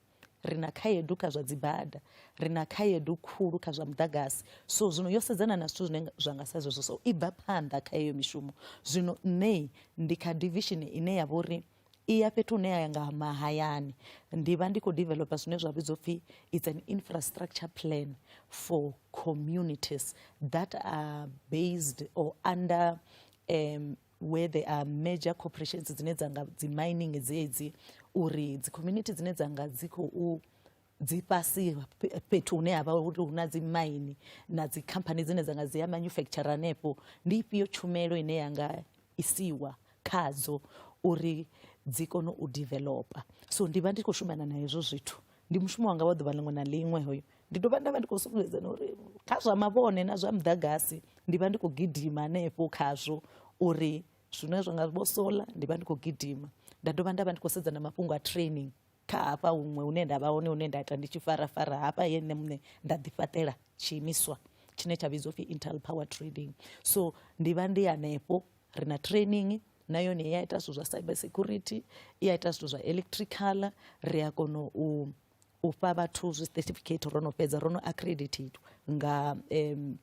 ri na khaedu kha zwa dzibada ri na khaedu khulu kha zwa muḓagasi so zwino yo sedzana na zwithu zwine zwa nga sa zwezwo so i bva phanḓa kha heyo mishumo zwino nṋe ndi kha division ine ya vha uri i ya fhethu hune ya nga mahayani ndi vha ndi khou developer zwine zwa vhidzwa upfhi it's an infrastructure plan for communities that are based or under um, where there are major corporations dzine dza nga dzi mining dzedzi uri dzi community dzine dza nga dzi khou dzi fhasi fhethu hune havha uri hu na dzi mine na dzi company dzine dza nga dzi ya manufacture hanefho ndi ifhio tshumelo ine ya nga isiwa khadzo uri dzi kone u developer so ndi vha ndi khou shumana na hezwo zwithu ndi mushumo wanga wa ḓuvha ḽiṅwe na ḽiṅwe hoyo ndi dovha nda vha ndi khou sumbedza na uri kha zwa mavhone na zwa muḓagasi ndi vha ndi khou gidima hanefho khazwo uri zwine zwa nga vho sola ndi vha ndi khou gidima nda dovha nda vha ndi khou sedza na mafhungo a training kha hafha huṅwe hune nda vha hone hune nda ita ndi tshi farafara hafha ye nṋe muṋe nda ḓifhaṱela tshiimiswa tshine tsha vhidzwa upfhi intel power trading so ndi vha ndi hanefho ri na training na yone i a ita zwithu zwa cyber security i a ita zwithu zwa electrical ri a kona u u fha vhathu zwi certificate ro no fhedza ro no accredited nga um,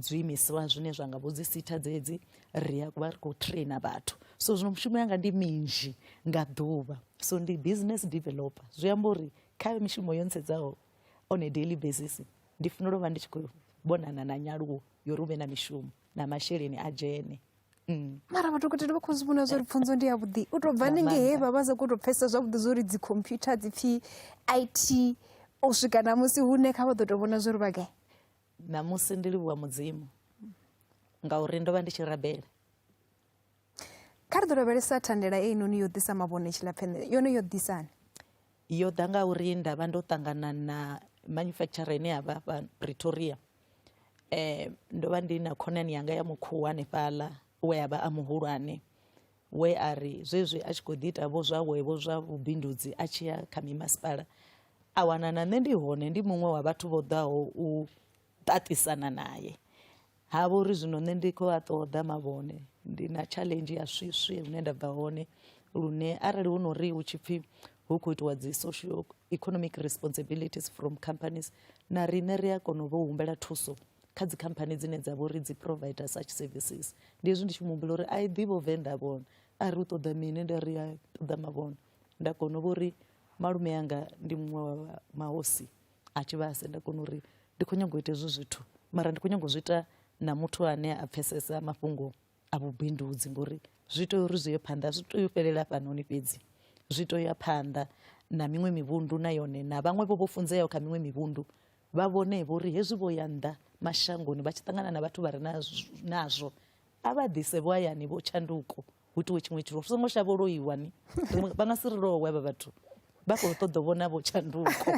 zwiimiswa zwine zwa nga vho dzi sitha dzedzi ri a vha ri khou traina vhathu so zwino mushumo yanga ndi minzhi nga ḓuvha so ndi business developer zwi amba uri kha mishumo yo ntsedzaho on a daily basis ndi funela u vha ndi tshi khou vhonana na nyaluwo yo ri u vhe na mishumo na masheleni a dzhene Mm. mara madokotela vha khou zwi vhona zwa uri pfunzo ndi yavhuḓi u tou bva hanenge he vha vha sa khou tou pfhesesa zwavhuḓi zwa uri dzi computer dzi pfhi i t u swika na musi hune kha vha ḓo tou vhona zwa uri vha gai ṋamusi ndi livhuwa mudzimu ngauri ndo vha ndi tshi rabela kha ri ḓo lavhelesa thandela einoni yo ḓisa mavhone tshilapfheṋe yone yo ḓisani yo ḓa nga uri nda vha ndo ṱangana na manufacturer ine ya vha fha Pretoria eh ndo vha ndi na khonani yanga ya mukhuwa hanefhaḽa we a vha a muhulwane we a ri zwezwi a tshi khou ḓi ita vho zwawe vho zwa vhubindudzi a tshi ya kha mimasipala a wana na nṋe ndi hone ndi muṅwe wa vhathu vho ḓaho u ṱaṱisana naye Ha vha uri zwino nṋe ndi khou a ṱoḓa mavhone ndi na challenge ya swiswi hune nda bva hone lune arali hu no ri hu tshi pfhi hu khou itiwa dzi social economic responsibilities from companies na riṋe ri a kona u vha humbela thuso kha dzi khamphani dzine dza vha uri dzi provider such services ndi hezwi ndi tshi muhumbula uri a i ḓivho venḓa vhona a ri u ṱoḓa mini nda ri a ṱoḓa mavhona nda kona u vha uri malume anga ndi muṅwe wa mahosi a tshi vha senda kona uri ndi khou nyanga u ita hezwi zwithu mara ndi khou nyanga u zwi ita na muthu ane a pfesesa mafhungo a vhubindudzi ngori zwi tea uri zwi ye phanḓa zwi tea u fhelela fhanoni fhedzi zwi tea u ya phanḓa na miṅwe mivhundu na yone na vhaṅwe vho vho funzeaho kha miṅwe mivhundu vha vhone vho uri hezwi vho ya nnḓa mashangoni vha tshi ṱangana na vhathu vha re nazwo a vha ḓise vho hayani vho tshanduko hu itiwe tshiṅwe tshithu ri songo shavha loiwa ni vha nga si ri lowe vha vhathu vha khou ṱoḓa vhona vho tshanduko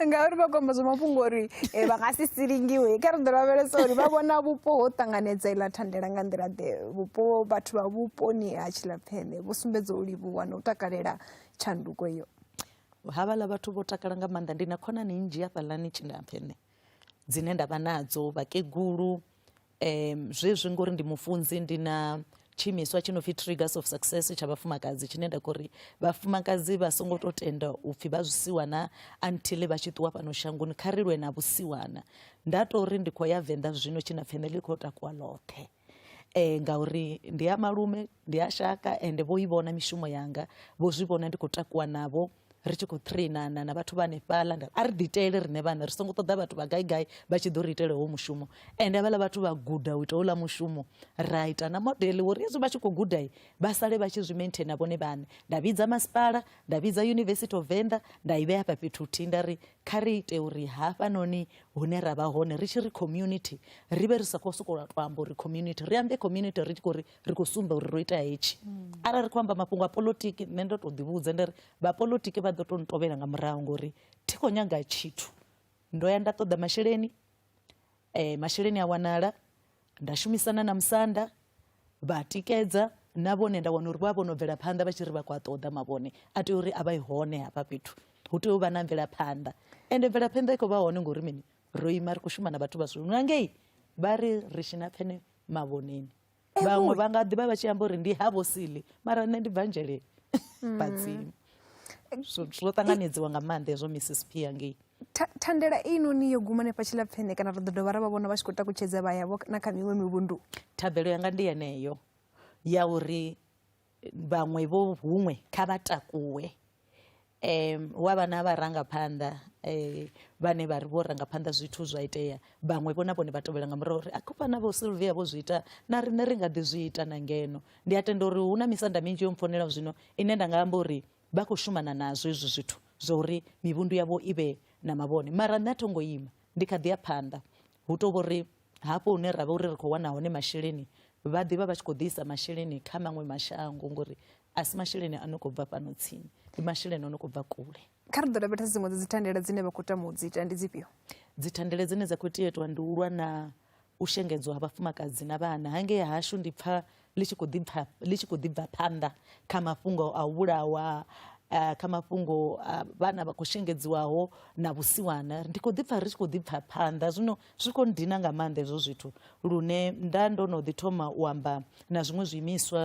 ngauri vha kwamba zwa mafhungo uri eh, vha nga si silingiwe kha ri ḓo lavhelesa uri vha vhona vhupo ho ṱanganedza iḽa thandela nga nḓila ḓe vhupo vhathu vha vhuponi ha tshilapfene vho sumbedza u livhuwa na u takalela tshanduko iyo havhaḽa vhathu vho takala nga maanḓa ndi na khonani nnzhi hafhaḽani tshilapfene dzine nda vha nadzo vhakegulu um zwezwi ngori ndi mufunzi ndi na tshiimiswa tshi no pfi triggers of success tsha vhafumakadzi tshine nda khou ri vhafumakadzi vha songo tou tenda u pfhi vha zwisiwana until vha tshi ṱuwa fhano shangoni kha ri lwe na vhusiwana nda tou ri ndi khou ya venḓa zwino tshi na family khou takuwa ḽoṱhe um ngauri ndi ya malume ndi a shaka ende vho i vhona mishumo yanga vho zwi vhona ndi khou takuwa navho ri tshi khou trainana na vhathu vha hanefhaḽa nda a ri ḓiitele riṋe vhane ri songo ṱoḓa vhathu vha gai gai vha tshi ḓo ri itela howo mushumo ende havhaḽa vhathu vha guda u ita houḽa mushumo ra ita na modele uri hezwi vha tshi khou gudai vha sale vha tshi zwi maintaina vhone vhane nda vhidza masipala nda vhidza university of venda nda i vhea hafha fhethu huthihi nda ri kha ri ite uri hafhanoni hune ra vha hone ri tshi ri community ri vhe ri sa khou sokou tou amba uri community ri ambe community ri tshi khou ri ri khou sumba uri ro ita hetshi arali ri khou amba mafhungo a polotiki nṋe ndo tou ḓivhudza nda ri vhapolitiki vha ḓo tou ntovhela nga murahu ngori thi khou nyaga tshithu ndo ya nda ṱoḓa masheleni um masheleni a wanala nda shumisana na musanda vha tikedza na vhone nda wana uri vha vho no bvela phanḓa vha tshi ri vha khou a ṱoḓa mavhone a tea uri a vha i hone hafha fhethu hu tea u vha na mvelaphanḓa ende mvelaphanḓa i khou vha hone ngori mini ro ima ri khou shuma na vhathu vha zwino ngei vha ri ri tshina phene mavhoneni vhaṅwe vha nga ḓivha vha tshi amba uri ndi ha vhosili mara nṋe ndi bvanzheleni mm. badzimu zwo ṱanganedziwa nga maanḓa hezwo mrs p yangei thandela inoni yo guma nefha tshilapfene kana ri ḓo dovha ra vha vhona vha tshi khou takutshedza vha yavho na kha miṅwe mivhundu thabelo yanga ndi yeneyo ya uri vhaṅwe vho huṅwe kha vha takuwe um wa vha na vharangaphanḓa um vhane vha ri vho rangaphanḓa zwithu zwa itea vhaṅwe vho na vhone vha tovhela nga murahu uri a khou fana vho silvia vho zwi ita na riṋe ri nga ḓi zwi ita na ngeno ndi a tenda uri hu na misanda minzhi yo mpfonela zwino ine nda nga amba uri vha khou shumana nazwo hezwi zwithu zwa uri mivhundu yavho i vhe na mavhone mara nṋe a tho ngo ima ndi kha ḓi ya phanḓa hu to vhori Hafho hune ra vha uri ri khou wana hone masheleni, vha ḓi vha vha tshi khou ḓi isa masheleni kha maṅwe mashango ngori a si masheleni a no khou bva fhano tsini, ndi masheleni a no khou bva kule. Kha ri ḓo lavhelesa dziṅwe dza dzithandela dzine vha khou tama u dzi ita, ndi dzifhio? Dzithandela dzine dza khou tea u itiwa ndi u lwa na u shengedzwa ha vhafumakadzi na vhana. Hangei hashu ndi pfa ḽi tshi khou ḓi pfa ḽi tshi khou ḓi bva phanḓa kha mafhungo a u vhulawa eh, kha mafhungo a vhana vha khou shengedziwaho na vhusiwana ndi khou ḓi pfa ri tshi khou ḓi pfa phanḓa zwino zwi khou ndina nga maanḓa hezwo zwithu lune nda ndo no ḓi thoma u amba na zwiṅwe zwiimiswa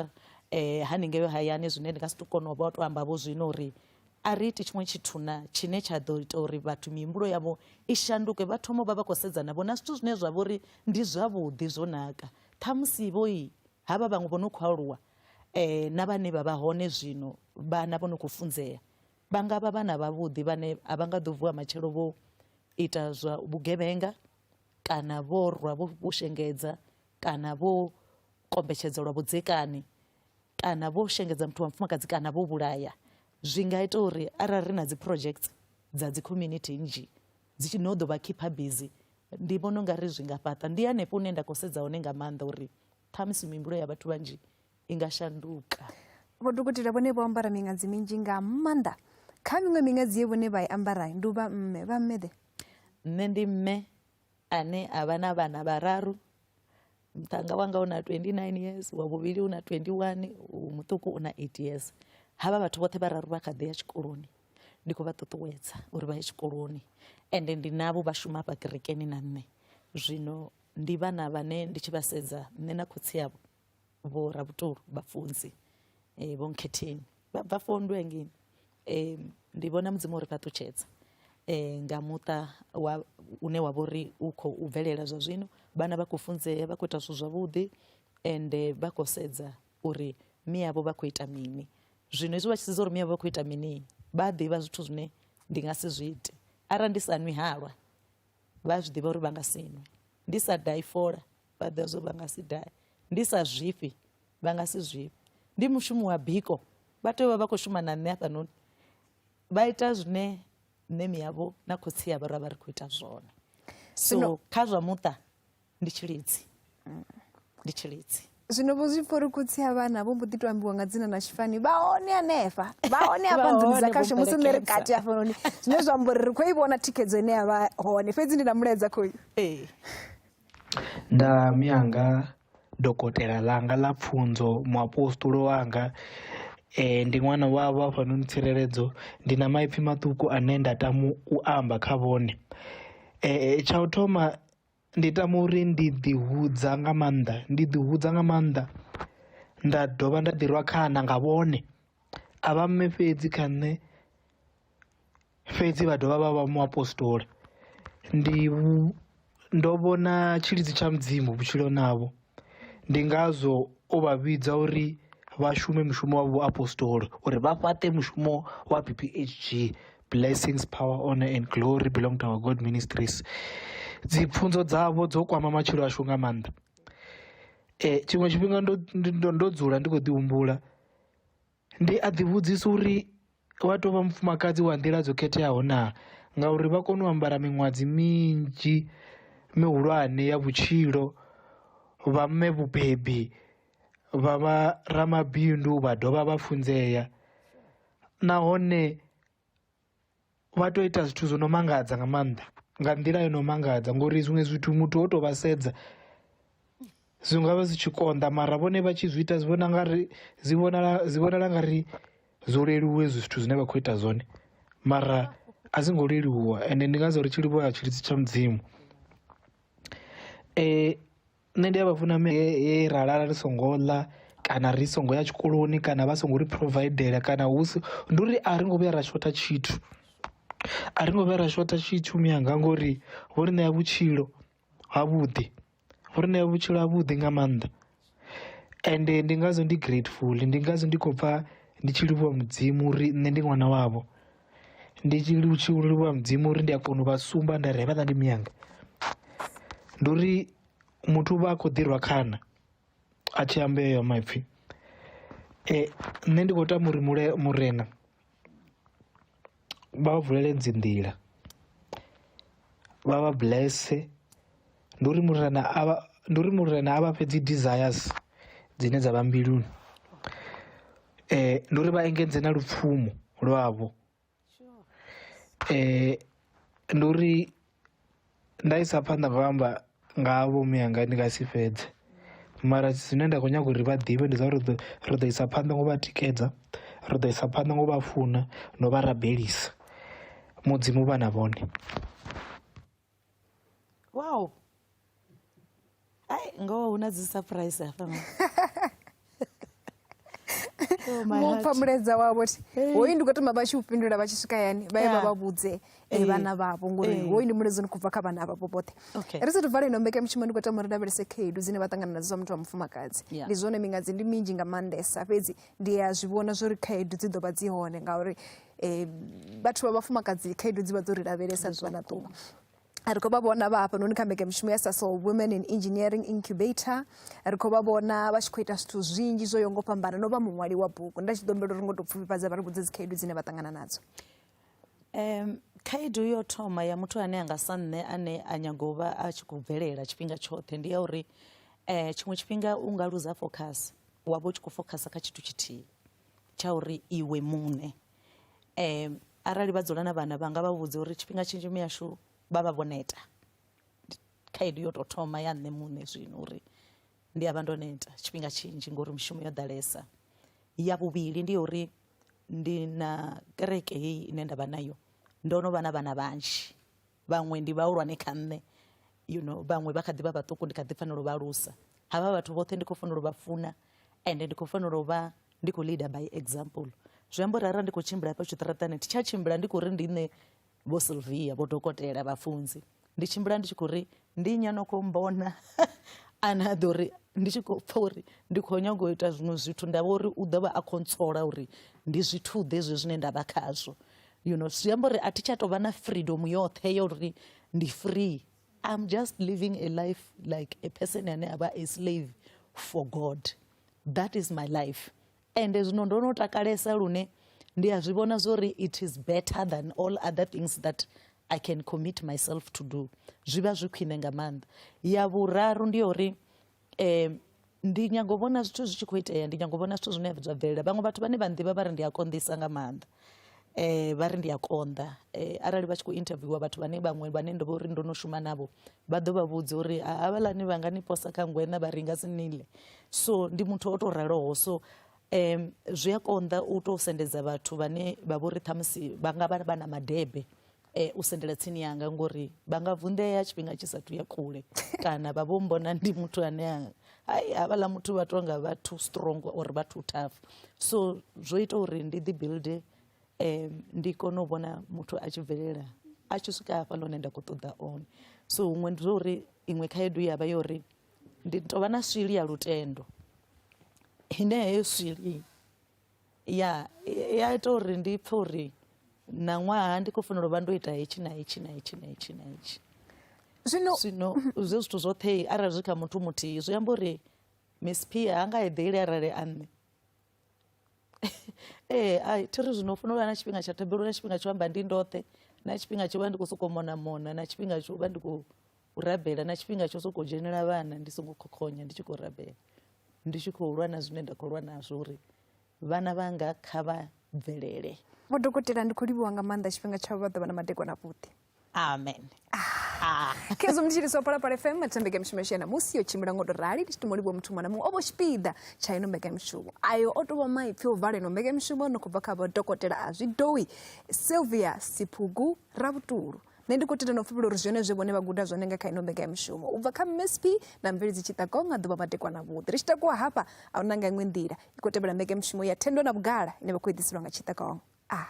eh haningei hayani zwine ndi nga si to kona u vha to amba vho zwino uri a ri iti tshiṅwe tshithu na tshine tsha ḓo ita uri vhathu mihumbulo yavho i shanduke vha thoma vha vha khou sedzana vho na zwithu zwine zwa vha uri ndi zwavhuḓi zwo naka Ṱhamusi vho i havha vhaṅwe vho no khou aluwa eh, na vhane vha vha hone zwino vhana vho no khou funzea vha nga vha vhana vhavhuḓi vhane a vha nga ḓo vuwa matshelo vho ita zwa vhugevhenga kana vho rwa vho vho shengedza kana vho kombetshedza lwa vhudzekani kana vho shengedza muthu wa mufumakadzi kana vho vhulaya zwi nga ita uri arali ri na dzi projects dza dzi community nnzhi dzi tshi no ḓo vha khipha bizi ndi vhona unga ri zwi nga fhaṱa ndi hanefho hune nda khou sedza hone nga maanḓa uri ṱhamusi mihumbulo ya vhathu vhanzhi i nga shanduka vho dokotela vhone vho ambara miṅadzi minzhi nga maanḓa kha miṅwe miṅadzi ye vhone vha i ambara ndi u vha mme vha mme ḓe nṋe ndi mme ane a vha na vhana vhararu muṱhannga wanga u na 29 years wa vhuvhili u na 21 u muṱuku u na 8 years havha vhathu vhoṱhe vhararu vha kha ḓi ya tshikoloni ndi khou vha ṱuṱuwedza uri vha ye tshikoloni ende ndi navho vha shuma hafha kerekeni na nṋe zwino ndi vhana vhane ndi tshi vha sedza nṋe na khotsi yavho vho rabutulu vhafunzi um vho nkhetheni vha bva fondwe ngini e, ndi vhona mudzimu uri fhaṱutshedza e, nga muṱa wa une wa vhori u khou bvelela zwa zwino vhana vha khou funzea vha khou ita zwithu zwavhuḓi ende vha khou sedza uri miyavho vha khou ita mini zwino hezwi vha tshi sedza uri miyavho vha khou ita mini vha a ḓivha zwithu zwine ndi nga si zwi ite arali ndi sa nwi halwa vha zwi ḓivha uri vha nga si nwe ndi sa dai fola vha ḓivha zwo vha nga si dai ndi sa zwifhi vha nga si zwivhe ndi mushumo wa biko vha tea u vha vha khou shuma na nṋe hafhanoni vha ita zwine nṋe miyavho na khotsi yavho ra vha ri khou ita zwone so kha zwa muṱa ndi tshilidzi ndi tshilidzi zwino vho zwi pfha uri khotsi a vhana vho mbo ḓi to ambiwa nga dzina na tshifani vha hone hanefha vha hone hafha nḓuni dza khasho musi nṋe ri kati hafhanoni zwine zwa amba uri ri khou i vhona thikhedzo ine ya vha hone fhedzi ndi na mulaedza khoyu ee Nda mi anga dokotela ḽanga ḽa pfunzo muapostola wanga ndi ṅwana wavho hafhanoni tsireledzo ndi na maipfi maṱuku ane nda tama u amba kha vhone, tsha u thoma ndi tama uri ndi ḓi hudza nga maanḓa ndi ḓi hudza nga maanḓa nda dovha nda ḓi rwa khana nga vhone a vha mme fhedzi kha nṋe fhedzi vha dovha vha vha muapostola ndi ndo vhona tshilidzi tsha mudzimu vhutshiloni havho ndi ngazwo o vha vhidza uri vha shume mushumo wa vhuapostoli uri vha fhaṱe mushumo wa BPHG blessings power honor and glory belong to our god ministries dzi pfunzo dzavho dzo kwama matshilo ashu nga maanḓa eh tshiṅwe tshifhinga ndo ndo dzula ndi khou ḓi humbula Ndi a ḓivhudzisa uri wa tou vha mufumakadzi wa nḓila dzo khetheaho na ngauri vha kone u ambara miṅwadzi minzhi mihulwane ya vhutshilo vha mme vhubebi vha vha ramabindu vha dovha vha funzea nahone. vha to ita zwithu zwo no mangadza nga maanḓa nga nḓila yo no mangadza ngori zwiṅwe zwithu muthu o to vha sedza zwi ngavha zwi tshi konḓa mara vhone vha tshi zwi ita zwi vhona nga ri zwi vhonala zwi vhonala nga ri zwo leluwa hezwi zwithu zwine vha khou ita zwone mara a zwi ngo leluwa ende ndi ngazwo ri tshi livhuwa tshilidzi tsha mudzimu um nṋe ndi a vha funa he ra lala ri songo ḽa kana ri songo ya tshikoloni kana vha songo ri phurovaidela kana hu si ndi uri a ri ngo vhuya ra shotha tshithu, a ri ngo vhuya ra shotha tshithu mianga ngori vho ri ṋea vhutshilo ha vhuḓi vho ri ṋea vhutshilo ha vhuḓi nga maanḓa. Ende ndi ngazwo ndi grateful ndi ngazwo ndi khou pfha ndi tshi livhuwa mudzimu uri nṋe ndi ṅwana wavho. ndi tshi tshi livhuwa mudzimu uri ndi a kona u vha sumba nda ri hevha ḽa ndi miyanga ndi uri muthu vha a khou ḓirwa khana a tshi amba eyo maipfhi um nṋe ndi khou tama uri mule murena vha vha vulele dzi nḓila vha vha blesse ndi uri murena a vha ndi uri murena a vha fhe dzi desires dzine dza vha mbiluni eh ndi uri vha engedze na lupfumo lwavho eh ndi uri nda isa phanḓa vha amba nga vho miyanga ndi nga si fhedze mara zwine nda khou nyaga uri vha ḓivhe ndi zwa uri ri ḓo ri ḓo isa phanḓa ngo vha tikedza ri ḓo isa phanḓa ngo vha funa no vha rabelisa mudzimu vha na vhone wow ai ngoho hu na dzi surprise hafha oh, mupfa muledza wavho ti hoyu ndi khou tama vha tshi u fhindula vha tshi swika yani vha ye vha vha vhudze eh, eh. vhana vhavho ngori eh. hoyu ndi muledzi ni khou bva kha vhana vhavho vhoṱhe ri sa tuvale ino mbeka mushumo ndi khou tama ri lavhelese khaedu dzine vha ṱangana nadzo zwa muthu wa mufumakadzi ndi zwone mingadzi ndi minzhi nga maanḓesa fhedzi ndi a zwi vhona zwo ri khaedu dzi ḓo vha dzi hone ngauri um vhathu vha vhafumakadzi khaedu dzi vha dzo ri lavhelesa ḓuvha na ḓuvha ri khou vha vhona vha hafhanoni kha mbekanyamushumo ya saso women in engineering incubator ri khou vha vhona vha tshi khou ita zwithu zwinzhi zwo yo ngo fhambana no vha muṅwali wa bugu nda tshi ḓo humbela uri ngo tou pfufhifhadza vha ri vhudze dzikhaedu dzine vha ṱangana nadzo Um, khaedu yo thoma ya muthu ane anga sa nṋe ane a nyaga u vha a tshi khou bvelela tshifhinga tshoṱhe ndi ya uri um tshiṅwe tshifhinga u nga luza focus wa vha u tshi khou focus kha tshithu tshithihi tsha uri iwe muṋe um arali vha dzula na vhana vha nga vha vhudza uri tshifhinga tshinzhi miyashu vha vha vho neta khaedu yo tou thoma ya nṋe muṋe zwino uri ndi a vha ndo neta tshifhinga tshinzhi ngori mishumo yo ḓalesa ya vhuvhili ndi ya uri Ndi na kereke heyi ine ndavha nayo ndo no vha na vhana vhanzhi vhaṅwe ndi vhahulwane kha nṋe you know vhaṅwe vha kha ḓi vha vhaṱuku ndi kha ḓi fanela u vha alusa havha vhathu vhoṱhe ndi khou fanela u vha funa ende ndi khou fanela u vha ndi khou leader by example zwi amba uri arali ndi khou tshimbila hafha tshiṱaratani thi tsha tshimbila ndi khou ri ndi nṋe vho sylvia vho dokotela vhafunzi ndi tshimbila ndi tshi khou ri ndi nya no khou mbona ane a ḓo ri ndi tshi khou pfa uri ndi khou nyanga u ita zwiṅwe zwithu nda vha uri u ḓo vha a khou ntsola uri ndi zwithu ḓe zwe zwine nda vha khazwo you know zwi amba uri a thi tsha tou vha na freedom yoṱhe ya uri ndi free i'm just living a life like a person ane a vha a slave for god that is my life ende zwino ndo no takalesa lune ndi a zwi vhona zwori it is better than all other things that i can commit myself to do zwi vha zwi khwine nga maanḓa ya vhuraru ndi ya uri um ndi nyago vhona zwithu zwi tshi khou itea ndi nyago vhona zwithu zwine zwa bvelela vhaṅwe vhathu vhane vha nḓivha vha ri ndi a konḓisa nga maanḓa vha ri ndi a konḓa arali vha tshi kho interviewer vhathu vhane vhaṅwe vhane ndo vhori ndo no shuma navho vha ḓo vha vhudza uri havhaḽani vha nga ni posa kha ngwena vha ri nga si nile so ndi muthu o to raloho so um zwi a konḓa u to sendedza vhathu vhane vha vhori ṱhamusi vha nga vha vha na madebe eh, u sendela tsini yanga ngori vha nga vunḓea tshifhinga tshi sathu ya kule kana vha vho mbona ndi muthu ane a- ai havhaḽa muthu vha tou nga vha too strong or vha too tough so zwo ita uri ndi ḓi builde um, ndi kone u vhona muthu a tshi bvelela a tshi swika hafha lone nda khou ṱoḓa one so huṅwe ndi zwo uri iṅwe khaedu ya vha yo uri ndi tovha na swili ya lutendo ine heyo swili ya i a ita uri ndi pfhe uri na ṅwaha ndi khou fanela u vha ndo ita hetshi na hetshi na hetshi na hetshi na hetshi zwino zwino zwe zwithu zwoṱhe arali zwi kha muthu muthihi zwi amba uri miss pia ha nga eḓeli arali a nṋe ee a thi ri zwino u fanela u vha na tshifhinga tsha thabelo na tshifhinga tsho amba ndi ndoṱhe na tshifhinga tsho vha ndi khou sokou mona mona na tshifhinga tsho vha ndi khou u rabela na tshifhinga tsho sokou dzhenela vhana ndi songo khokhonya ndi tshi khou rabela ndi tshi khou lwa na zwine nda khou lwa nazwo uri vhana vhanga kha vha bvelele vho dokotela ndi khou livhuwa nga maanḓa tshifhinga tshavho vha ḓo vha na madekwana avhuḓi amen ah. khezwo ndi tshiliso phalaphala fm thembeke mishumo yashiya namusi yo tshimbila ngo to rali ndi tshi to molivhuwa muthu muṅwe na muṅwe o vho tshipiḓa tsha ino mbekamishumo ayo o tovha maipfi o vala ino mbekamishumo no khou bva kha vho dokotela a zwidowi sylvia siphugu ravhutulu nṋe ndi khou tenda no pfhupula uri zwone zwe vhone vha guda zwone nga kha ino mbega ya mishumo u bva kha msp na mveledzi tshiṱako nga ḓuvha vhatekwa na vhuḓi ri tshi takuwa hafha a hu na nga iṅwe nḓila i khou tevhela mbega ya mishumo ya thendo na vhugala ine vha khou eḓiselwa nga tshiṱakong a ah.